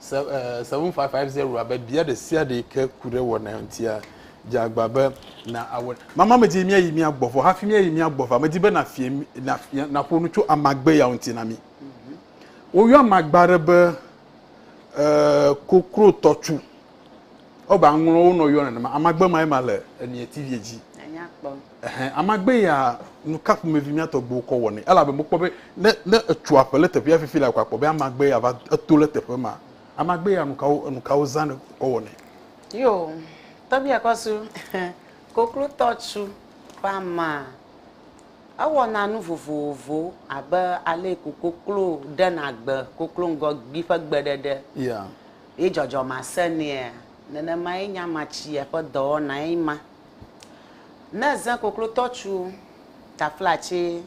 Seven five five zero abe bia ɖe sia ɖe ke ku ɖe wɔna ŋutia dze agba be na awɔ. Mama medi mía yi mía gbɔ vɔ hafi mía yi mía gbɔ va medi be na fie na fia na ƒo nu tso amagbe ya ŋuti na mi. Woyɔ amagba ɖe be eh, kokro tɔtsu. Ɔba ŋlɔ wo nɔ yɔ nenema amagbe ma ema le emiɛ tivie dzi. Ɛhɛ, amagbe ya nuka ƒomevi mía tɔgbuiwo kɔ wɔnɛ? Elabe mekpɔ be ne ne etso aƒe le teƒea fifi la ko akpɔ be amagbe ya va eto le teƒe ma. Amagbe ya nukawo enukawo zãne kɔ wɔnɛ? Yo, tɔbia kɔ su koklotɔ tsu ƒe amaa. Ewɔna nu vovovowo abe ale ko koklo ɖena gbe koklo ŋgɔ gbi ƒe gbe ɖeɖe. Ya. Ye dzɔdzɔme asɛnɛa? Nenemae nye amatsia ƒe dɔwɔnae ma. Ne zẽ koklotɔ tsu taflatsi,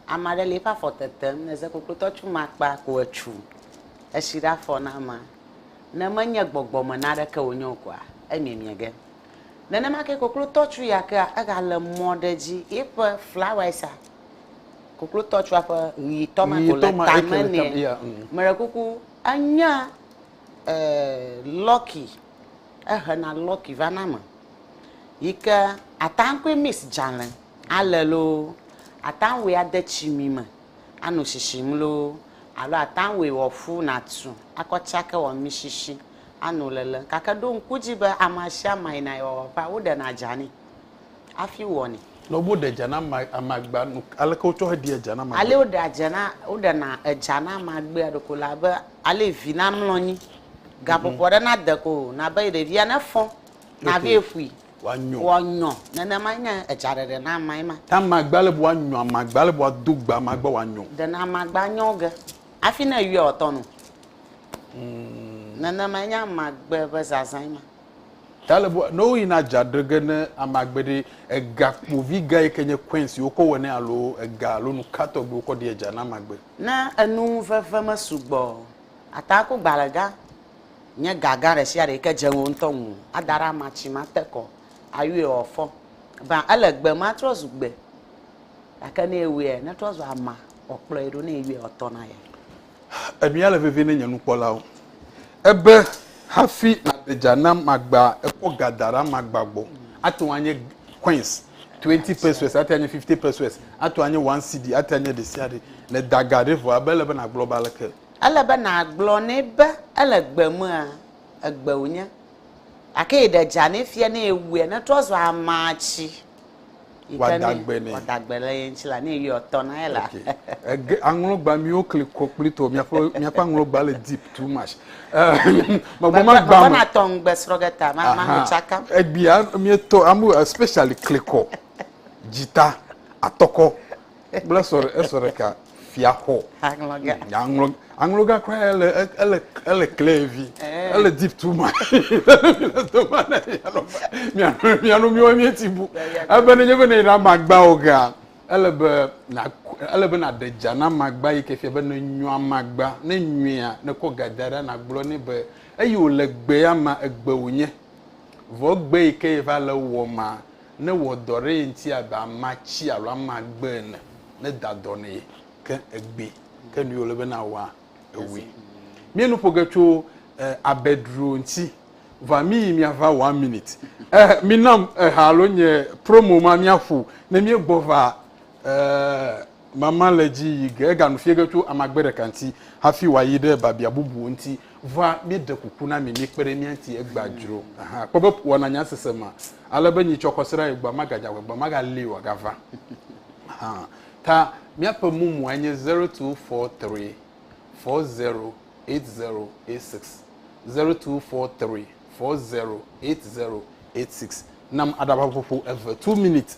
ame aɖe le eƒe afɔ tetem, ne zẽ koklotɔ tsu eme akpa ko etsu etsi ɖe afɔ na amea, ne menye gbɔgbɔ me naneke wònye o koa, emiemie ge. Nenema ke koklotɔ tsu ya kea, egale mɔ ɖe edzi, eƒe flawɛsa, koklotɔ tsua ƒe ʋetɔ ma ko le tame nɛ. Meɖe kuku, enya eh, Lucky ehena lɔki vana eme yi ke ate ŋu akɔe mix dzale ale loo, ate ŋu awɔe ade tsimi me ano shishim loo alo ate ŋu awɔe wòaƒu nàtu akɔ tsake wɔ mishishi ano lele. Gake ɖo ŋku edzi be amasiame yina yewoawɔƒea, woɖena dza nɛ. hafi wɔnɛ. Ne woɖe dza na amagbea nu aleke wotsɔ heɖia dza na amagbea? Ale woɖea dza na woɖena edza na amagbea ɖeko le abe ale vi namlɔ anyi gaƒoƒo aɖe nade ko o nabe ɖevia nefɔ nabe ƒui wòanyɔ wòanyɔ nenemae nye edzaɖeɖe na amae ma. Ta amagbea ale be woanyɔ amagbea ale be woado gbe amagbea wòanyɔ. Ɖena amagbea nyɔ ge hafi ne eyɔe wòatɔ no. Nenemae nye amagbe ƒe zazãe ma. Ta le bua no yi na ja drege ne ama gbe ɖi ega kpovi ga yi ke nye coins yi wokɔ wɔ ne alo ega alo nu ka tɔgbi wokɔ ɖi eja na magbe. Ne enu veve me sugbɔ o, ata ku gbalẽ gã nye ga gã ɖe sia ɖe yi ke dze ŋuwò ŋutɔ ŋu ada ɖe ama tsi ma te kɔ ayuie wɔ fɔ. Eva ele gbe ma trɔ zu gbe gake ne ewuiɛ ne trɔ zu ama wɔ kplɔe ɖo ne eyuiɛ wɔ tɔ na ye. Enua le vevie ne nye nukpɔlawo. Ebe hafi nàɖe dza nam magba ekɔ ga da ɖe amagba gbɔ. Ate ŋu anye coins, twenty pesewas, ate anye fifty pesewas, ate ŋu anye one cedi, ate anye ɖe sia ɖe. Ne da ga ɖe vɔ ebe ele be nàgblɔ be aleke. Ele be nàgblɔ nɛ be ele gbe mea, egbe wònye. Gake yi ɖe dza nɛ fia ne ewuia, netrɔ zua amatsi. Wòada gbe nɛ. Wòada gbe le ye ŋuti la, ne eyɔe tɔ na ye la. Ege aŋlɔgba miwo kli kɔ kpli tɔ miaƒe miaƒe aŋlɔgba le deep too much. Magba ma gba. Magba na tɔ ŋgbe srɔ ge ta ma ma ho tsaka. Egbia mietɔ amu especially klikɔ, dzita, atɔkɔ. Kple esɔ esɔ ɖeka fia xɔ. Aŋlɔ ga. Mm, aŋlɔ aŋlɔ ga kura ele ele ele kle vi. Eh. Ele deep too much. Mianu mianu miwo mi ti bu. Ebe ne nye be ne na magba o ga. Ele be na ele be na de dza na magba yi ke fia be ne nyɔa magba ne nyɔa ne kɔ ga da ɖa na gblɔ ne be eyi o le gbe ya ma egbe o nye. Vɔ gbe yi ke va le wɔ ma ne wɔ dɔ ɖe ye ŋuti abe amea tsi alo amea gbe ene, ne da dɔ nɛ ke egbee, ke nu yi wòle be nawɔa, ewɔe. Míe nu ƒo ge tso abe dro ŋuti, vɔa mí yi mía va one minute. Eh, mi nam eha alo nye promo ma mía ƒo ne míe gbɔ va eh. Mama le edzi yi ge. Eganu fiẽ ge tso amagbe ɖeka ŋuti hafi wòayi ɖe biabia bubuwo ŋuti. Vɔa míeɖe kuku na mi mikpe ɖe mía ŋuti egbea dzro. Aha, kpɔ be wɔna nya sese ma, ale be nyitsɔ kɔsiɖa yi gbɔa magadze agbagba, magali o, agava. Aha, ta míaƒe mumua nye zero two four three four zero eight zero eight six, zero two four three four zero eight zero eight six. Nam aɖaʋaƒoƒo eve, two minutes.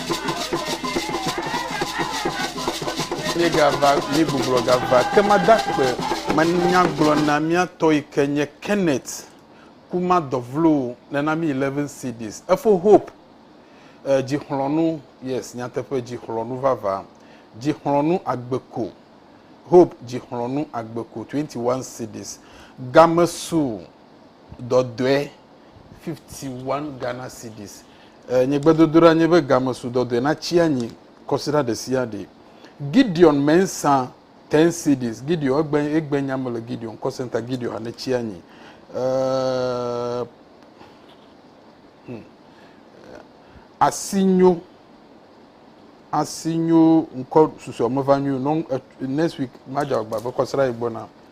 Míegava, míegbublɔ gava ke mada akpe manya gblɔ na mía tɔ yi ke nye Kenneth ku ma dɔ vlo ne na mi 11 CDs. Efo Hope eh, dzixlɔnu, yes, nyateƒe dzixlɔnu vava, dzixlɔnu agbe ko. Hope dzixlɔnu agbe ko 21 CDs. Game su dɔdɔe 51 Ghana cedis. E, nye gbedodoɖa nye be game su dɔdɔe natsi anyi kɔsiɖa ɖesiaɖe. Gideon Mensah 10 cedis. Gideon egbe egbe nya me le Gideon call center Gideon anetsi anyi. E, hmm. Asinyo asinyo ŋkɔ susua meva nyo next week madza agba be kɔsiɖa yi gbɔna.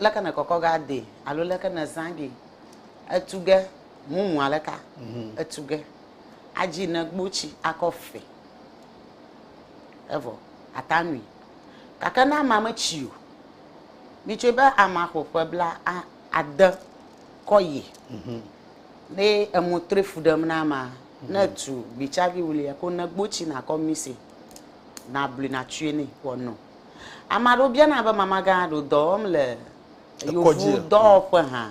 Leke ne kɔkɔ ga de alo leke ne zã ge etu ge mumu ale ka mhm. etu ge adzi ne gbotsi akɔ fe evɔ ata nui gake ne ama metsi o mitsɔe be ama xɔ ƒe bla ade kɔ yi mhm. ne emo tre fu ɖem na ama mhm. ne tu gbitsavi wulia ko ne gbotsi nakɔ mise na blui na tue ne wɔnɔ. Ame aɖewo biana be mamagã aɖo dɔ wɔm le yovu dɔwɔƒe hã.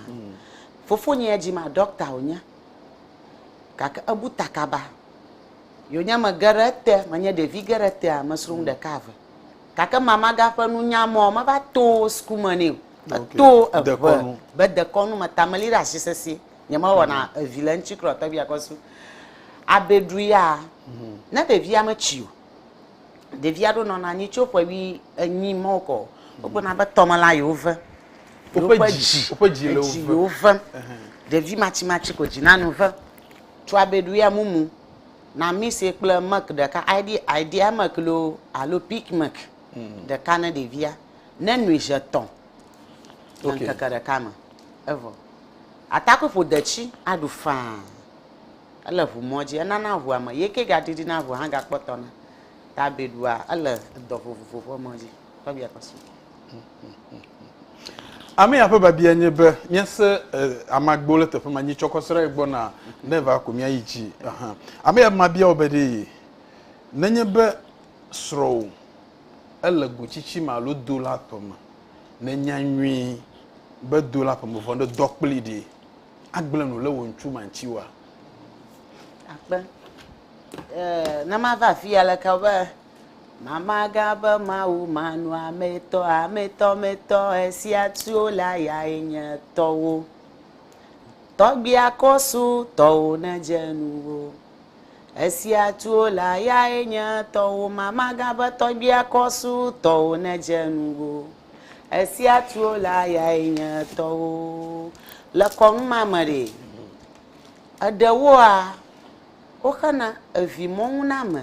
Fofonye ya dzima ɖɔkta wònye gake ebu ta kaba. Yewonye mege ɖe ete, menye ɖevi ge ɖe etea, mesrɔ̃ nu ɖeka eve. Gake mamagã ƒe nunya mɔ meva to suku me nɛ o. Meto eŋe be dekɔnu me ta meli ɖe asi sesĩe. Nyemewɔna evi le eŋuti kura o tɔgbi akɔsu. Abeɖu ya, ne ɖevia metsi o, Ɖevi aɖewo nɔna anyi tso ƒe wui enyi ma wokɔ o. Wogblɔna be tɔmelã yewo ve. Woƒe Yewoƒe dzi, dzi, woƒe dzi le wo edzi ve. yewo ve. Ɖevi matsimatsi ko dzina nu ve. Tsɔ abeɖuya mumu, namise kple milk ɖeka, ID, idea milk loo alo peak milk ɖeka ne ɖevia. Nenoe zi etɔ̃ le Ok. ŋkeke ɖeka me. Evɔ. Atakpui ƒo detsi aɖu faa. Ele ŋumɔ dzi, enana ŋua me, ye ke gaɖiɖina ŋua hã gakpɔ tɔna. Ta bebua ele edɔ vovovo ƒe mɔ dzi. Tɔgbia kɔ su. Amea ƒe babia nye be míase amagbo le teƒe ma nyi tsɔ kɔ srɔe gbɔ na ne va ko mía yi dzi. Aha. Amea be mabia wò be ɖe yi nenye be srɔwò ele go tsitsi me alo do la tɔ me, nènya nyui be do la ƒe me vɔ ɖe dɔ kpli ɖe. Agblẽ nu le wò ŋtsu ma ŋtsi oa? Akpe. E, ne mava afi ya leke be mama gã be Mawu manɔametɔ, ametɔmetɔ, esia tsuo la ya enye tɔwo. Tɔgbia kɔsu tɔwo ne dze nuwo. Esia tsuo la ya enye tɔwo, mama gã be tɔgbia kɔsu tɔwo ne dze nuwo. Esia tuo la yae nye tɔwo. Le kɔnu ma me ɖe, eɖewoa, woxena evimɔ̃nuname,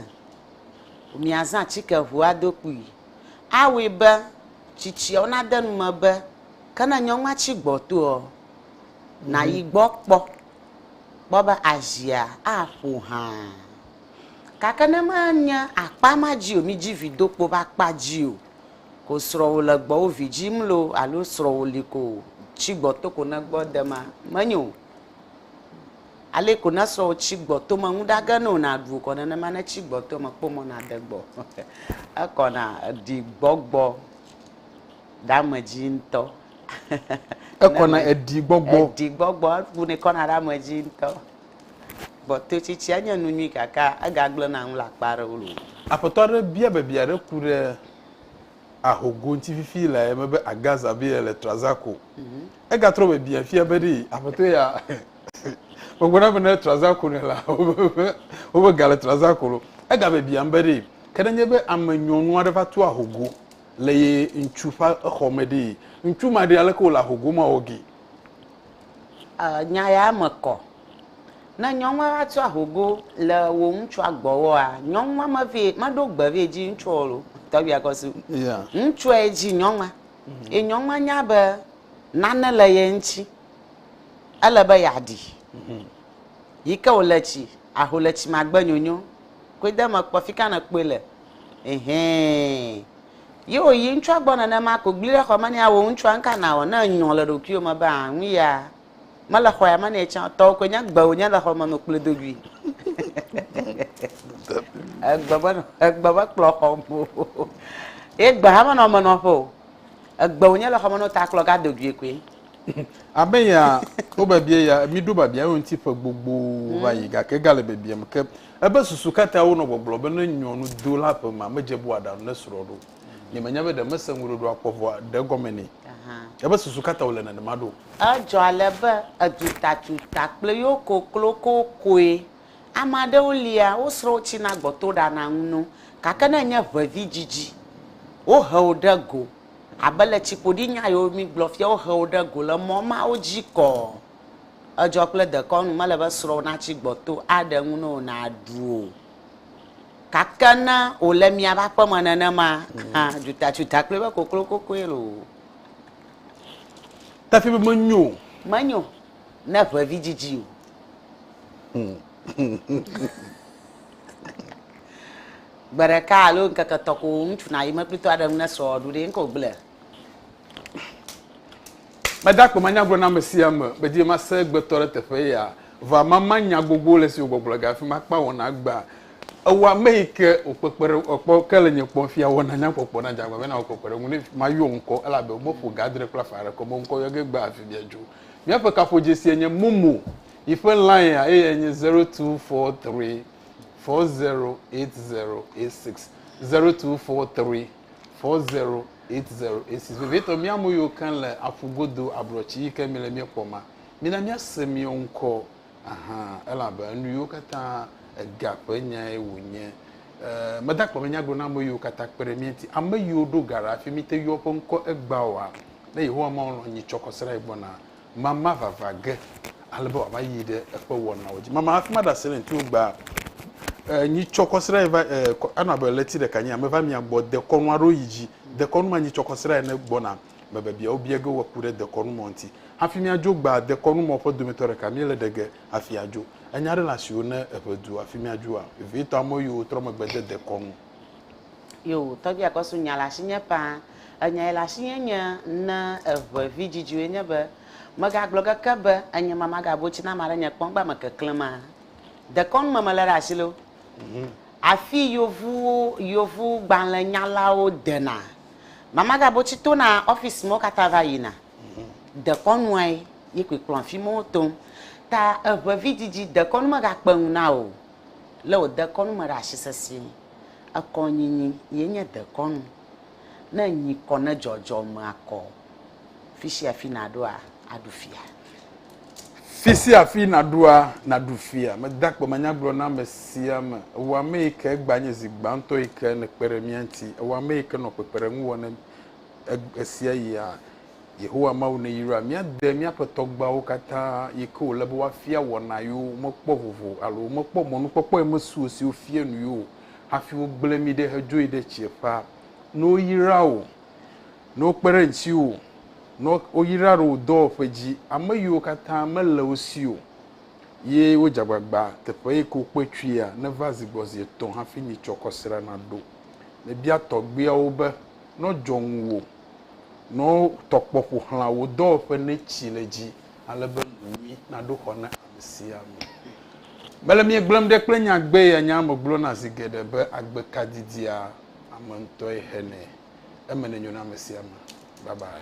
miazã atike ŋu ado kpui. Awɔe be tsitsiawo nade nu me be, ke ne nyɔnua tsi gbɔtoɔ, nàyi gbɔ kpɔ, kpɔ be azia aƒo hã. Gake ne menye akpa ma dzi o, midzi vi do kpo be akpa dzi o. Ko srɔwo le gbɔwo vidji mlo alo srɔwo li ko tsi gbɔ to ko ne gbɔ dema menyo o ale ko ne srɔwo tsi gbɔ to me nuɖa ge no na ɖuo kɔ nenema ne tsi gbɔ to me kpɔ mɔ na de gbɔ ekɔ na eɖi gbɔgbɔ dame dzi ŋtɔ ekɔ na eɖi gbɔgbɔ eɖi gbɔgbɔ ebu ne kɔ na ɖe ame dzi ŋtɔ. Gbɔtoetsitsia nye nu nyui gake egagblẽna nu le akpa aɖewo loo. Aƒetɔ aɖe bia biabia aɖe ku ɖe ahogo ŋuti fifi le eme be Agaz Abile le Trazaco. Egatrɔ biabia fia be ɖee aƒetɔ ya megblɔ na be ne Trazaco nɛ la, wobe ga le Trazaco lo. Egabiabiam be ɖee ke nenye be ame nyɔnu aɖe va to ahogo le ye ŋutsu ƒe exɔ me ɖee, ŋutsu ma ɖee aleke wòle ahogo ma wɔ gee. Eer, nya ya me kɔ. Ne nyɔnua va tsɔ ahogo le wò ŋutsua gbɔwoa, nyɔnua me vɛ, me ɖo gbe vɛ dzi ŋutsuɔ lo. Tɔgbia kɔ su. Yeah. Ŋutsua ye dzi nyɔnua. Mhm. Ye nyɔnua nya be nane le ye ŋutsi. Ele be ya ɖi. Mhm. Yi ke wòle tsi, aho le tsi magbe nyonyo. Koe de me kpɔ fika ne kpɔe le. Ehɛɛ. Ye wòyi ŋutsua gbɔ nenema ko gblẽe ɖe xɔ me nɛ awɔ ŋutsua nuka nàwɔ ne ènyɔ le ɖokuiwò me be aa nu ya mele xɔ ya me nɛ tsã o, tɔwò koe nye gbe wònye le xɔme no kplɔe do goe. Egbe me egbe me kplɔ xɔm o ye gbe hã menɔ eme nɔƒe o, egbe wònye le xɔme no ta kplɔ ga do goe koe. Abe ya wobebie ya, mi ɖo babia eŋuti ƒe gbogbowo va yi gake egale bebiem ke. Ebe susu katã wonɔ gbɔgblɔ be ne nyɔnu do la ƒe ma medze bua ɖa nu ne srɔ̃ ɖo. Nye menya be ɖe mese ŋuɖoɖo akpɔ vɔa ɖe egɔme nɛ. Ebe susu katã wole nenema ɖo. Edzɔ ale be edutatuta kple yo koklo kokoe. Ame aɖewo lia wo srɔ̃wo tsina gbɔ to ɖana nu no. Gake ne enye ʋevi dzidzi, wo he wo ɖe go. Abe le tsiƒoɖi nya yiwo mi gblɔ fia wo he wo ɖe go le mɔ mawo dzi kɔ. edzɔ kple dekɔnu, mele be srɔ̃wò natsi gbɔto aɖe ŋu na wò nàɖu o. Gake ne wòle miaƒe aƒe me nenema hã, dzutatsuta kplii be koklokokoe loo. Efia be menyo o. Menyo ne ʋevi dzidzi o. Gbe ɖeka alo ŋkeke etɔ̃ ko ŋutsu nayi meklitɔ aɖe ŋu ne srɔ̃wò ɖu ɖee, nu ka wògblɔe? Mede akpe manya gblɔ na ame sia ame, medi be mase egbetɔ ɖe teƒe ya, vɔa mama nya gbogbo le esi wògbɔgblɔ ga afi ma kpa wɔna gbea. Ewɔ ame yi ke wòkpekpe ɖe ekpɔ ke le nye kpɔm fia wɔna nya kpɔkpɔ na dze agbagba na wòkpekpe ɖe ŋu ne mayɔ ŋkɔ elabe womeƒo ga adre kple afã aɖe kɔ be ŋkɔ yɔ ge gbea afi mia dzo. Míaƒe kaƒodzesie nye Momo, yi ƒe line a eye enye 0243408086, 0243408086. four zero eight zero eight six vevietɔ mía ame yiwo ke le aƒu godo ablɔtsi yi ke mi le mía kpɔ ma mina mía se mía ŋkɔ ahan elabe enu yiwo katã ega ƒe nyae wònye eh, meda kpɔ be nya gblɔ na ame yiwo katã kpe ɖe mía ŋuti ame yiwo ɖo ga ɖe afi mi te yɔ ƒe ŋkɔ egbaoa ne yehowa mawo lɔ nyi tsɔ kɔsera yi gbɔna mama vava ge ale be wòava yi ɖe eƒe wɔnawo dzi. Mama hafi maɖe asi ɖe ŋuti o gbaa, eh, nyi tsɔ kɔsiɖa va, eh, anɔ abe ɣleti ɖeka nyi ame va mia gbɔ dekɔnu aɖewo yi dzi. Dekɔnu ma nyi tsɔ kɔsiɖa ene gbɔna me bebia wobia ge wòaku ɖe dekɔnu mɔ ŋuti. Hafi míadzo gbaa, dekɔnu mɔ ƒe dometɔ ɖeka míele ɖe ge hafi adzo. Enya aɖe le asiwò ne eʋe du hafi míadzoa? Vevietɔ amewo yiwo trɔ megbe de dekɔnu. Yoo, tɔgbia kɔ su nya le asinye paa. Enya yi le asinye nye ne eʋe vi dzidziwoe nye be, mega gblɔ keke be enye ma maga bo tsi na maɖe nye kpɔn gba me keklẽ maa. Dekɔnu me mele ɖe asi lo. Afi yovu yovu gbalẽ nyalawo dena ma maga bo tsi tona office mewo kata va yina. Dekɔnuae ye koe kplɔm afi mewo tom. Ta eʋe vi dzidzi dekɔnu mega kpe ŋu na o. lé wò dekɔnu me ɖe asi sesĩe. Ekɔ nyinyi ye nye dekɔnu. Ne nyi kɔ ne dzɔdzɔme akɔ fisiafi naɖoa, aɖu fia. Fisiafi naɖoa, naɖu fia. Meda akpe me nya gblɔ na ame sia ame. Ewɔ ame yi ke egba nye zi gbãtɔ yi ke nèkpe ɖe mía ŋuti. Ewɔ ame yi ke nɔ kpekpeɖeŋu wɔ ne ɣesiaɣia. Yehowa Mawu neyra mía de míaƒe tɔgbuiawo katã yi ke wòle be woafia wɔna yewo womekpɔ vovo alo womekpɔ mɔnukpɔkpɔe me suo siwo fia nu yewo hafi wogblẽ mí ɖe hedzo yi ɖe tsiẽƒea. Ne woyra wò, ne wokpe ɖe ŋutiwò, ne woyra ɖe wò dɔwɔƒe dzi, ame yiwo katã mele wo si o ye wodze agbagba teƒe yi ke wokpe tsoea, neva zi gbɔ zi etɔ̃ hafi nyitsɔkɔsrea naɖo. Mebia tɔgbuiawo be, Nɔ dzɔ ŋuwò. Nɔwo tɔkpɔ ƒo xlã wò dɔwɔƒe netsi le dzi ale be nu nyui naɖo xɔ na amesiame. Mele miegblɔm ɖe kple nyagbee ya nyaa me gblɔna zi geɖe be agbe ka didia ame ŋutɔe hɛnɛ. Eme nenyo na amesiame. Bye bye.